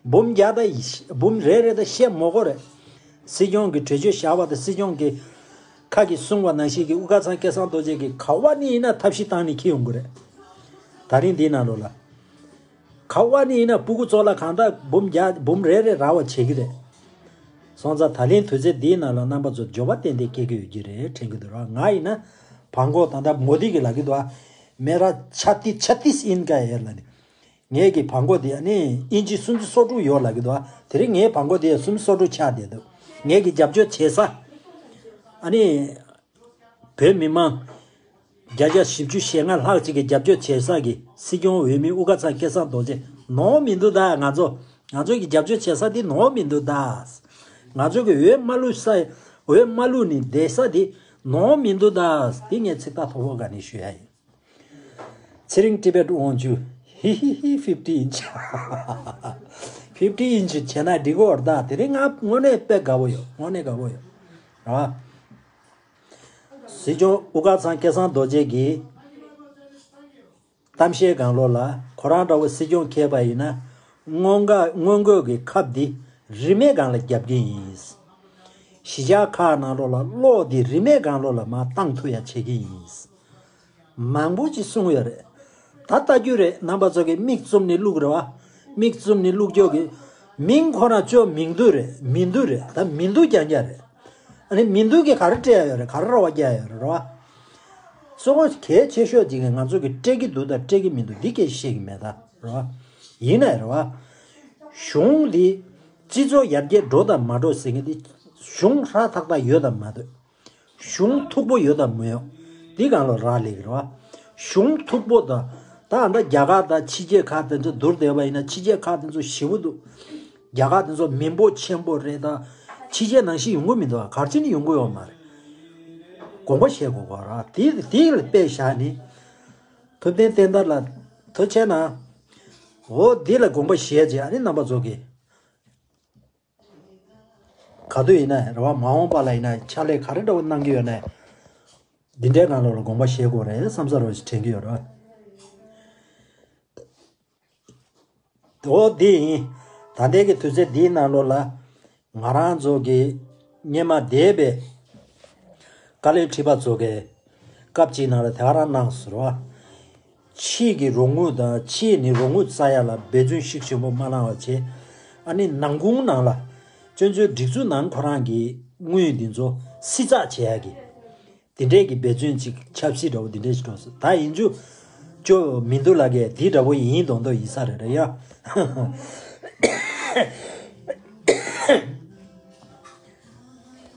འབུམ་བརྒྱ་དང་འབུམ་རེ་རེ་དང་ཤེད་མོག་གོ་རེད། སྲིད་སྐྱོང་གི་གྲོས་ཆོད་བཞག་པ་དང་སྲིད་སྐྱོང་གི། ཁག་གིས་གསུང་བ་ནང་བཞིན་གྱི་དབུ་དཀར་ཚང་སྐལ་བཟང་རྡོ་རྗེ་གིས་ག་བ་ནི་ཡིན་ན་ཐབས་ཤེས་བཏང་ནས་ཁྱི་ཡོང་གི་རེད། ད་རིང་འདིའི་ནང་ལོག་ལ། ག་བ་ནི་ཡིན་ན་སྤུ་གུ་ཚོགས་ལ་གང་དག་འབུམ་བརྒྱ་འབུམ་རེ་རེ་རག་བ་བྱེད་ཀྱི་རེད། སོང་ཙང་ད་ལེན་དུས་ཚོད་འདིའི་ནང་ལོག་རྣམ་པ་ཚོ་འབྱོར་བ་ཏན་ཏན་སྐྱེ་གི་ཡོད་ཀྱི་རེད་དྲན་གྱི་འདུག་ར་ང་ཡིན་ན། བྷང་གོག་དང་ད་མོ་དི་གི་ལ་གི་འདུག་ཨ། མེ་ར་ཆ་ཏི་ཆ་ཏིས་ཨིན་ཀ་ཡེར་ལ་ནི། ངེད་ཀྱི་བག་འགོ་དེ་ནི་དབྱིན་ཇི་སུམ་ཅུ་སོ་དྲུག་ཡོད་ལགས་ཀྱི་འདུག་དེ་རིང་ངའི་བག་འགོ་དེ་སུམ་ཅུ་སོ་དྲུག་ཆགས་བསྡད་འདུག་ངེད་ཀྱི་རྒྱབ་སྐྱོར་བྱེད་ས། བོད་མི་མང་བརྒྱ་ཆ་བཞི་བཅུ་ཞེ་ལྔ་ལྷག་ཅིག་གི་རྒྱབ་སྐྱོར་བྱེད་ས་ཀྱི་སྲིད་སྐྱོང་འོས་མི་དབུ་དགའ་ཚང་སྐལ་བཟང་རྡོ་རྗེ་ནོར་མི་འདུག་ད་ང་ཚོ་ང་ཚོ་གི་རྒྱབ་སྐྱོར་བྱེད་ས་དེ་ནོར་མི་འདུག་ད། ང་ཚོ་གི་འོས་མ་ལུས་ས་འོས་མ་ལུས་ནི་བསྡད་ས་དེ་ནོར་མི་འདུག་ད་དེ་ངས་ཚིག་ཐ་ཐོར་བོ་ག་ནས་ཞུ་ཡ་ཡིན། ཚེ་རིང་ཏི་བེད་དབང་ཅུ། ཧི་ཧི་ཧི fifty inch fifty inch བྱས་ན་འགྲིག་གོ་ད་དེ་རིང་དངོས་གནས་དཔེ་དགའ་བོ་ཡོད་དངོས་གནས་དགའ་བོ་ཡོད་རེད་བ། སྲིད་སྐྱོང་དབུ་དཀར་ཚང་སྐལ་བཟང་རྡོ་རྗེ་གིས་གཏམ་བཤད་གང་ལོག་ལ་ཁོ་རང་འདྲ་བོ་སྲིད་སྐྱོང་ཁེལ་པ་ཡིན་ན་སྔོན་འག་སྔོན་འགོད་ཀྱི་ཁབ་འདི་རིས་མེད་སྒང་ལ་རྒྱབ་རྒྱུ་ཡིན། གཞིས་ཆགས་ཁག་ནང་ལོག་ལ་གློག་འདི་རིས་མེད་སྒང་ལོག་ལ་མ་བཏང་ཐུ་ཡ་བྱེད་ཀྱི་ཡིན། མང་པོ་ཅིག་གསུང་ཡོད་རེད། ད་ལྟ་རྒྱུ་རེད་ནང་པ་ཚོ་གི་མིག་བཙུམ་ནི་བླུག་རེད་བ། མིག་བཙུམ་ནི་བླུག་འཇོག་གི། མིང་ཁོ་ན་བཅོས་མིང་འདུག་རེད་མི་འདུག་རེད་ད་མི་འདུག་རྒྱང་རྒྱང་རེད། ཨ་ནི་མི་འདུག་གི་ག་རེ་སྤྲད་ཡོད་རེད་ག་རེ་རོགས་བ་རྒྱག་ཡོད་རེད་རེད་བ། གསུང་བ་གལ་ཆེ་ཤོས་དེ་གི་ང་ཚོ་གི་སྤྲད་གི་འདུག་དང་སྤྲད་གི་མི་འདུག་འདི་སྐད་བཤད་གི་མེད་ད་རེད་བ། ཡིན་ནའི་རེད་བ། གཞུང་འདི། སྤྱི་ཚོགས་ཡར་རྒྱས་འགྲོ་དང་མ་འགྲོ་ཟེར་གི་འདི། གཞུང་ཧྲ་ཐག་ཐག་ཡོད་དང་མ་དོད། གཞུང་མཐུག་པོ་ཡོད་དམ་མི་ཡོད། འདི་གང་ལ་རག་ལས་ཀྱི། གཞུང་མཐུག་པོ་དང། ད་ང་འདྲ་རྒྱ་ཁག་དང་ཕྱི་རྒྱལ་ཁག་དེ་ཚོ་བསྡུར་བསྡད་པ་ཡིན་ན་ཕྱི་རྒྱལ་ཁག་དེ་ཚོ་ཞི་བོ་འདུག། རྒྱ་ཁག་དེ་ཚོ་མི་འབོ་ཆེན་པོ་རེད་ད། ཕྱི་རྒྱལ་ནང་བཞིན་ཡོང་གི་མི་འདུག་ག་གར་ཕྱིན་ཡོང་གི་ཡོད་མ་རེད། དགོངས་པ་བཞེས་དགོས་པ་རེད། དེ་དེ་དཔེ་བཞག་ནི། ཐུབ་བསྟན་བསྟན་དར་ལ། ཐུབ་ཆེན་ན། འོ་དེ་ལ་དགོངས་པ་བཞེས་རྗེས་ཨ་ནི་རྣམ་པ་ཚོགས་ཀྱིས། ག་དུས་ཡིན་ན་རེ་བ་མ་འོངས་པ་ལ་ཡིན་ན་ཕྱག་ལས་ག་རེ་འདྲ་བོ་གནང་གི་ཡོད་ནའི། འདི་འདྲའི་ནང་ལོགས་ལ་དགོངས་པ་བཞེས་དགོས་རེད་བསམ་ས་རུ་དྲན་གི་ཡོད་རེད། འོ་དེ་ཡིན། ད་ལྟའི་གི་དུས་ཚོད་འདིའི་ནང་ལོགས་ལ། ང་རང་ཚོ་གི་སྙེ་མ་སྡེ་བའི། བཀའ་བློན་ཁྲི་པ་ཚོ་གི། སྐབས་གཅིག་ནང་ལ་དེ་ག་རང་གནང་ས་རུ། ཕྱིས་ཀྱི་རོགས་དངུལ་དང་ཕྱིས་ནི་རོགས་དངུལ་རྩ་ཡ་ལ་འབད་བརྩོན་ཤུགས་ཆེན་པོ་མ་གནང་བ་བྱས། ཨ་ནི་ནང་ཁུངས་ནང་ལ། སྤྱོད་འཚོལ་སྒྲིག་འཛུགས་ནང་ཁོ་རང་གིས་དངུལ་འདི་ཚོ་བསྲི་ཚགས་བྱས་ཡ་གི། འདི་འདྲས་ཀྱི་འབད་བརྩོན་ཅིག་ཆབ་སྲིད་འདྲ་བོ་འདི་འདྲས་ཤིག་གྲོངས་སོང་ད་ཡིན་ཅུ། ཅོ། མི་འདུག་ལ་གས་འདི་འདྲ་བོ་ཡིན་མདོག་མདོག་ཡིན་ས་རེད་རེད་ཡ།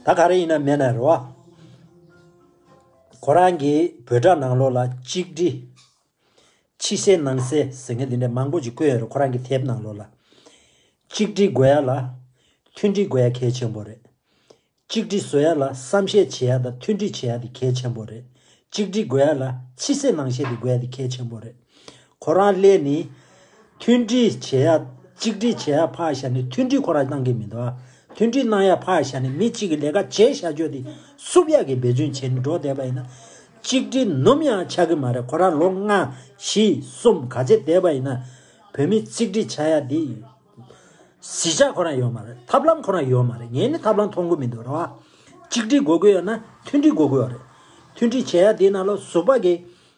ད་ག་རེ་ཡིན་ན་མེད་ན་རེད་བ། ཁོ་རང་གི་བོད་དྲ་ནང་ལོགས་ལ་གཅིག་བསྒྲིལ། ཕྱི་གསལ་ནང་གསལ་ཟེར་མཁན་དེ་འདྲ་མང་པོ་ཅིག་བཀོད་ཡོད་རེད་ཁོ་རང་གི་དེབ་ནང་ལོགས་ལ། གཅིག་བསྒྲིལ་དགོས་ཡ་ལ། མཐུན་སྒྲིལ་དགོས་ཡ་གལ་ཆེན་པོ་རེད། གཅིག་བསྒྲིལ་བཟོ་ཡ་ལ་བསམ་ཤེས་བྱེད་ཡ་དང་མཐུན་སྒྲིལ་བྱེད་ཡ་དེ་གལ་ཆེན་པོ་རེད། གཅིག་བསྒྲིལ་དགོས་ཡ་ལ་ཕྱི་གསལ་ནང་གསལ་དེ་དགོས་ཡ་དེ་གལ་ཆེན་པོ་རེད། ཁོ་རང་སླད་ནི། མཐུན་སྒྲིལ་བྱེད་ཡ། གཅིག་སྒྲིལ་བྱེད་ཡ་ཕག་ཞྭ་ནི་མཐུན་སྒྲིལ་ཁོ་རང་གནང་གི་མི་འདུག་ཨ། མཐུན་སྒྲིལ་གནང་ཡ་ཕག་ཞྭ་ནི་མི་གཅིག་གི་ལས་ཀ་བྱེད་ཤ་ཅོ་དེ་སུབ་ཡ་གི་འབད་བརྩོན་བྱེད་ནི་འགྲོ་བསྡད་པ་ཡིན་ན། གཅིག་སྒྲིལ་ནུམ་ཡང་ཆགས་གི་མ་རེད་ཁོ་རང་ལོ་ལྔ། བཞི། གསུམ་ག་བྱེད་བསྡད་པ་ཡིན་ན། བོད་མི་གཅིག་སྒྲིལ་བྱ་ཡ་དེ། གཞིས་ཆགས་ཁོ་རང་ཡོད་མ་རེད་ཐབས་ལམ་ཁོ་རང་ཡོད་མ་རེད་ངས་ནི་ཐབས་ལམ་མཐོང་གི་མི་འདུག་རེད་བ། གཅིག་སྒྲིལ་དགོས་གི་ཡོད་ན་མཐུན་སྒྲིལ་དགོས་གི་ཡོད་རེད། མཐུན་སྒྲིལ་བྱེད་ཡ་དེ་ནང་ལོ་ཟུག་པ་གི།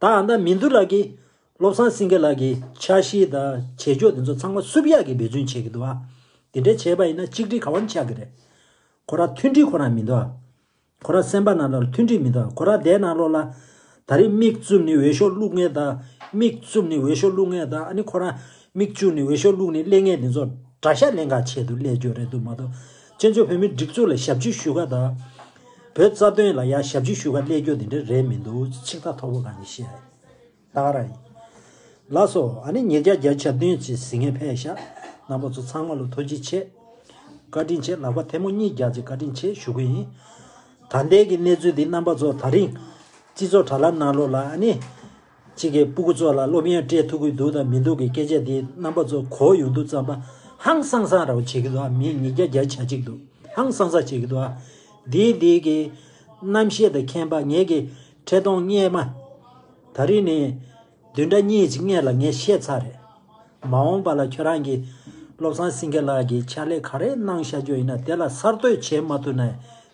དང་ན་མིན་དུ་ལགས་ཀྱིས་བློ་བཟང་སེང་གེ་ལགས་ཀྱི་འཆར་གཞི་དང་བྱེད་ཕྱོགས་དེ་ཚོ་ཚང་མ་བསུབ་ཡག་གི་འབད་བརྩོན་བྱེད་ཀྱི་འདུག་ཨ། དེ་འདྲའི་བྱས་པ་ཡིན་ན་གཅིག་སྒྲིལ་ག་བ་ནས་ཆགས་ཀྱི་རེད། ཁོ་རང་མཐུན་སྒྲིལ་ཁོ་རང་མིན་འདུག་ཨ། ཁོ་རང་སེམས་པ་ན་ལོར་མཐུན་སྒྲིལ་མིན་འདུག་ཨ་ཁོ་རང་བསྡད་ན་ལོར་ལ། ད་རེས་མིག་བཙུམ་ནས་འོས་ཤོག་བླུག་ངེས་དང། མིག་བཙུམ་ནས་འོས་ཤོག་བླུག་ངེས་དང་ཨ་ནི་ཁོ་རང། མིག་བཅུག་ནས་འོས་ཤོག་བླུག་ནས་སླེ་ངེས་དེ་ཚོ། དགྲ་ཤ་ལེན་ག་བྱེད་དུ་སླེ་རྒྱུ་རེད་འདུག་མ་གཏོགས། སྤྱི་མཚུངས་བོད་མིའི་སྒྲིག་འཛུགས་ལ་ཞབས་ཕྱི་ཞུ་ག་དང། བོད་རྩ་དོན་ལ་ཡང་ཞབས་ཕྱི་ཞུ་ག་སླད་རྒྱུ་དེ་འདྲ་རེད་མི་འདུག་ཅི་ཆིག་ཐག་ཐོག་པོ་ག་ནས་བཤད། སྟག་ར་ཡིན། ལ་སོ་ཨ་ནི་ཉིག་བརྒྱ་བརྒྱ་ཆ་བདུན་གྱི་གཟི་ངས་ཕས་ཤ་ནག་པོ་ཚོ་ཚང་མ་ལོ་ཐོ་ཅི་ཆེ། བཀའ་དྲིན་ཆེ་ལག་པ་ཐལ་མོ་གཉིས་རྒྱག་ཅིག་བཀའ་དྲིན་ཆེ་ཞུ་གི་ཡིན། ད་ལྟའི་གི་གནས་ཚུལ་འདི་རྣམ་པ་ཚོ་ད་རིང། སྤྱི་ཚོགས་དྲ་ལ་གནང་ལོ་ལ་ཨ་ནི། གཅིག་གིས་སྤུ་གུ་ཚོ་ལ་སློབ་ཡོན་སྤྲད་ཐུབ་ཀྱི་འདུག་དང་མི་འདུག་གི་སྐད་ཆ་དེའི་རྣམ་པ་ཚོ་གོ་ཡོང་འདུག་བརྩམས་པ་ཧང་སང་སང་ར་བ་བྱེད་ཀྱི་འདུག་ཨ་མི་ཉིས་བརྒྱ་བརྒྱ་ཆ་གཅིག་འདུག་ཧང་སང་སང་བྱེད་ཀྱི་འདུག་ཨ། འདི་འདི་གི། རྣམ་ཤེས་དང་མཁྱེན་པ་ངེད་ཀྱི་ཁྲེ་གདོང་སྙེ་མ། ད་རིང་ནས། བདུན་ཕྲག་གཉིས་ཀྱི་སྔས་ལ་ངས་བཤད་ཚར་རེད། མ་འོངས་པ་ལ་ཁྱོད་རང་གིས་བློ་བཟང་སེང་གེ་ལགས་ཀྱིས་ཕྱག་ལས་ག་རེ་གནང་བཞག་རྒྱུ་ཡིན་ན་དེ་ལ་གསར་གཏོད་བྱེད་མ་ཐུབ་ན་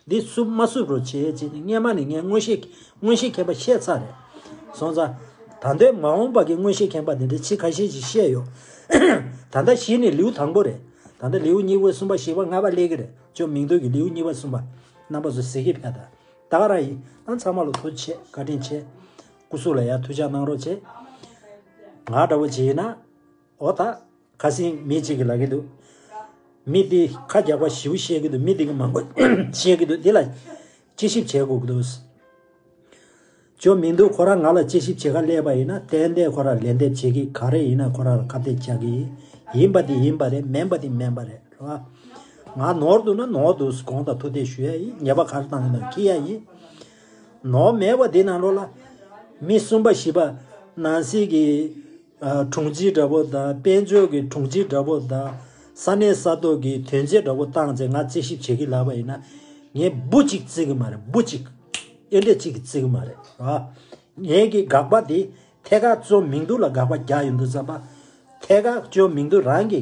འདི་བསུབ་མ་བསུབ་རོགས་བྱེད་ཅེས་སྔས་མ་ནས་ངས་མངོན་ཤེས་མངོན་ཤེས་མཁན་པ་བཤད་ཚར་རེད་སོང་ཙང། ད་ལྟའི་མ་འོངས་པ་གི་མངོན་ཤེས་མཁན་པ་དེ་འདྲའི་ཕྱིས་ཁ་ཤས་ཤིག་བཤད་ཡོད། ད་ལྟ་གཞི་ནས་ལེའུ་དང་པོ་རེད། ད་ལྟ་ལེའུ་གཉིས་པའི་གསུམ་པ་བཞི་པ་ལྔ་པ་གླེགས་ཀྱི་རེད་ཅོ་མིང་འདོན་གྱི་ལེའུ་གཉིས་པ་གསུམ་པ་རྣམ་པ་ཚོ་ཟེར་གྱི་ཕེད་ད། ད་རང་ཡིན་ན་ཚང་མ་ལ་ཐུགས་ཆེ་བཀའ་དྲིན་ཆེ། སྐུ་གཟུགས་ལ་ཡང་ཐུགས་ཅག་གནང་རོགས་བྱེད། ང་འདྲ་བོ་བྱེད་ཡིན་ན། ཨོ་ད། ཁ་སིང་མི་གཅིག་གིས་ལབ་གི་འདུག། མི་འདི་ཁ་རྒྱག་པ་བཞིའུ་བཤད་ཀྱི་འདུག་མི་འདི་གི་མང་པོ་བཤད་ཀྱི་འདུག་འདི་ལ། དཔྱད་ཞིབ་བྱེད་དགོས་ཀྱི་འདུག། ཅོ་མི་འདུག་ཁོ་རང་ང་ལ་དཔྱད་ཞིབ་བྱེད་ཁ་སླེབས་པ་ཡིན་ན་ཏན་ཏན་ཁོ་རང་ལན་འདེབས་བྱེད་ཀྱི་ག་རེ་ཡིན་ན་ཁོ་རང་ལ་ཁ་གཏད་བཅག་གི་ཡིན། ཡིན་པ་འདི་ཡིན་པ་རེད་མེན་པ་འདི་མེན་པ་རེད་ལོ། ང་ནོར་འདུག་ན་ནོར་འདུག་གོང་དང་ཐུགས་གཏད་ཞུ་ཡ་ཡིན་ཉེས་པ་ག་རེ་བཏང་ཡོད་ན་ཁྱི་ཡ་ཡིན། ནོར་བ་མེད་པ་དེ་རྣམས་རོ་ལ། མི་གསུམ་པ་བཞི་པ། ནང་སྲིད་ཀྱི་དྲུང་ཆེ་འདྲ་པོ་དང་དཔལ་འབྱོར་གྱི་དྲུང་ཆེ་འདྲ་པོ་དང། ས་གནས་ས་ཐོག་གི་དོན་ཆེ་འདྲ་པོ་བཏང་ཚེ་ང་རྩིས་ཞིབ་བྱེད་ཀྱི་ལབ་པ་ཡིན་ན། ངས་འབུ་གཅིག་རྩིས་ཀྱི་མ་རེད་འབུ་གཅིག། ཨེ་འབྲས་གཅིག་གིས་རྩིས་ཀྱི་མ་རེད། ངེད་ཀྱི་དགག་པ་དེ་ཐད་ཀར་བཅོ་མིང་དུ་ལ་དགག་པ་བརྒྱ་ཡོད་འདུག་བསམ་པ། ཐད་ཀར་བཅོ་མིང་དུ་རང་གི།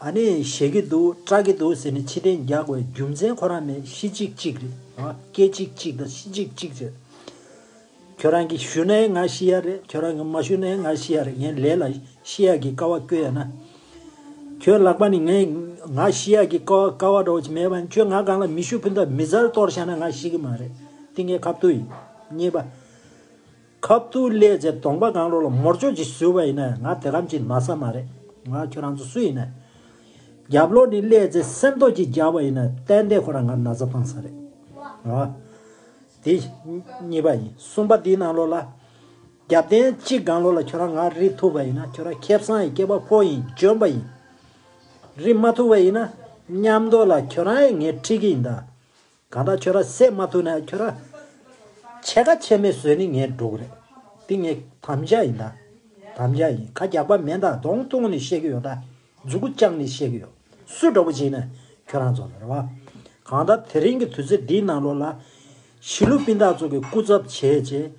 ཨ་ནི་བཞེས་ཀྱི་འདུག་སྐྲག་གི་འདུག་ཟེར་ནས་ཕྱི་དྲན་རྒྱག་དགོས་རྒྱུ་མཚན་ཁོ་རང་མེད་ཤི་ཅིག་ཅིག་རེད་སྐད་ཅིག་ཅིག་དང་ཤི་ཅིག་ཅིག་བྱས། ཁྱོད་རང་གིས་ཞུ་ནའི་ང་ཤི་ཡ་རེད་ཁྱོད་རང་གིས་མ་ཞུ་ནའི་ང་ཤི་ཡ་རེད་ངས་ལས་ལ་ཤི་ཡ་གི་ཀ་བ་བསྐོལ་ཡ་ན། ཁྱོད་ལག་པ་ནི་ངས་ང་ཤི་ཡ་གི་ཀ་བ་འདྲ་བོ་མེད་པ་ནི་ཁྱོད་ང་སྒང་ལ་མི་ཤུགས་ཕུ་མདའ་མི་ཟར་གཏོར་བཞག་ན་ང་ཤི་གི་མ་རེད་ཏིང་ངེ་ཁ་བཏུད་ཡིན། གཉིས་པ། ཁབ་ཏུ་སླེ་ཚེ་གདོང་པ་གང་རོག་ལ་མོར་ཅོག་ཅིག་ཟུལ་བ་ཡིན་ན་ང་དེ་ལམ་གྱིས་མ་ས་མ་རེད་ང་ཁྱོད་རང་ཚོ་སུ་ཡིན་ན། རྒྱབ་ལོག་ནས་སླེ་ཚེ་སེམས་ཏོག་ཅིག་རྒྱག་པ་ཡིན་ན་ཏན་ཏན་ཁོ་རང་ང་ན་ཚ་བཏང་ས་རེད། ཨ། དེ་གཉིས་པ་ཡིན་གསུམ་པ་དེའི་ནང་ལོག་ལ། རྒྱབ་རྟེན་གཅིག་གང་ལོག་ལ་ཁྱོད་རང་ང་རིག་ཐུབ་པ་ཡིན་ན་ཁྱོད་རང་ཁེབ་བསང་ཡི་སྐྱེས་པ་ཕོ་ཡིན་འཇོན་པ་ཡིན། རིག་མ་ཐུབ་པ་ཡིན་ན། མཉམ་འདོག་ལ་ཁྱོད་རང་ཡི་ངའི་ཁྲིག་གི་ཡིན་ད། གང་ལྟར་ཁྱོད་ར་བསད་མ་ཐུབ་ན་ཁྱོད་ར་ཕྱེད་ཀ་ཕྱེད་མེད་བཟོས་ནི་ངའི་སྒྲོག་རེད། འདི་ངའི་དམ་བཅའ་ཡིན་ད། དམ་བཅའ་ཡིན་ཁ་རྒྱག་པ་མེད་ད་གདོང་བཏུང་ནི་བཤད་ཀྱི་ཡོད་ད་མཛུ་གུ་བཅག་ནི་བཤད་ཀྱི་ཡོད་སུ་འདྲ་བོ་བྱེད་ན་ཁྱོད་རང་ཚོ་ལ་རེ་བ། གང་ལྟར་དེ་རིང་གི་དུས་ཚོད་འདིའི་ནང་ལོགས་ལ། གཞིས་ལུས་སྤུན་ཟླ་ཚོ་གི་སྐུ་ཚབ་བྱས་རྗེས།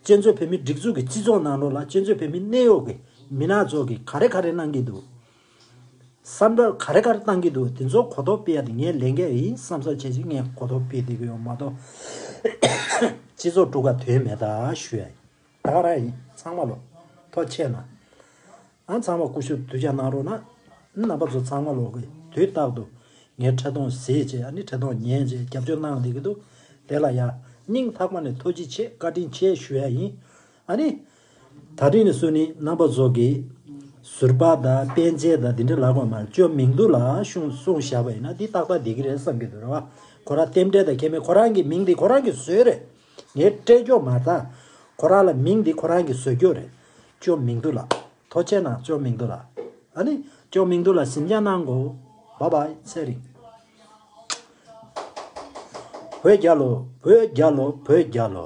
གཅན་ཚོད་བོད་མི་སྒྲིག་འཛུགས་ཀྱི་སྤྱི་ཚོགས་ནང་ལོགས་ལ་གཅན་ཚོད་བོད་མི་གནས་ཡོག་གི་མི་སྣ་ཚོ་གི་ག་རེ་ག་རེ་གནང་གི་འདུག་བསམ་བརྡར་ག་རེ་ག་རེ་བཏང་གི་འདུག་དེ་ཚོ་གོ་རྟོགས་སྤེལ་ཡ་དེ་ངའི་ལས་འགན་ཡིན་བསམ་བསམ་བྱས་བྱས་ངས་གོ་རྟོགས་སྤེལ་བསྡད་ཀྱི་ཡོད་མ་གཏོགས། སྤྱི་ཚོགས་དཀྲུགས་ཁ་དོན་མེད་ད་ཞུ་ཡ་ཡིན། ད་ག་རང་ཡིན་ཚང་མ་ལོ་ཐོ་ཆད་ན། ཨང་ཚང་མ་ཀུ་ཤུ་གདུལ་བྱ་གནང་རོགས་གནང། རྣམ་པ་ཚོ་ཚང་མ་ལོ་གི་དུས་རྟག་ཏུ་ངས་འཕྲལ་གཏོང་བཟས་རྗེས་ཡ་ནི་འཕྲལ་གཏོང་ཉན་རྗེས་རྒྱབ་སྐྱོར་གནང་བསྡད་ཀྱི་འདུག་དེ་ལ་ཡ་སྙིང་ལྷག་པ་ནས་ཐུགས་རྗེ་ཆེ་བཀའ་དྲིན་ཆེ་ཞུ་ཡ་ཡིན། ཨ་ནི། ད་དྲིས་ནས་སུ་ནི་རྣམ་པ་རྫོགས་ཀྱི། ཟུར་པ་དང་དཔེ་མཇལ་དང་འདི་འདྲ་ལ་གོ་མར་བཅོ་མིང་བསྡུ་ལ་གཞུང་གསུང་བཞག་པ་ཡིན་ན་འདི་རྟག་པར་བདེ་གི་རེད་བསམ་གྱི་འདུག་རེ་བ་ཁོ་རང་རྟེན་འབྲེལ་དང་ཁྱད་མེད་ཁོ་རང་གི་མིང་འདི་ཁོ་རང་གི་བཟོས་རེད། ངས་སྤྲད་རྒྱོག་མ་བཏང། ཁོ་རང་ལ་མིང་འདི་ཁོ་རང་གི་བཟོས་རྒྱོག་རེད། བཅོ་མིང་བསྡུ་ལ། ཐོ་ཆད་ན་བཅོ་མིང་བསྡུ་ལ། ཨ་ནི། བཅོ་མིང་བསྡུ་ལ་ཟིན་རྒྱག་གནང་གོ། བ་བ། ཚེ་རིང། བོད་རྒྱ་ལོ། བོད་རྒྱ་ལོ། བོད་རྒྱ་ལོ།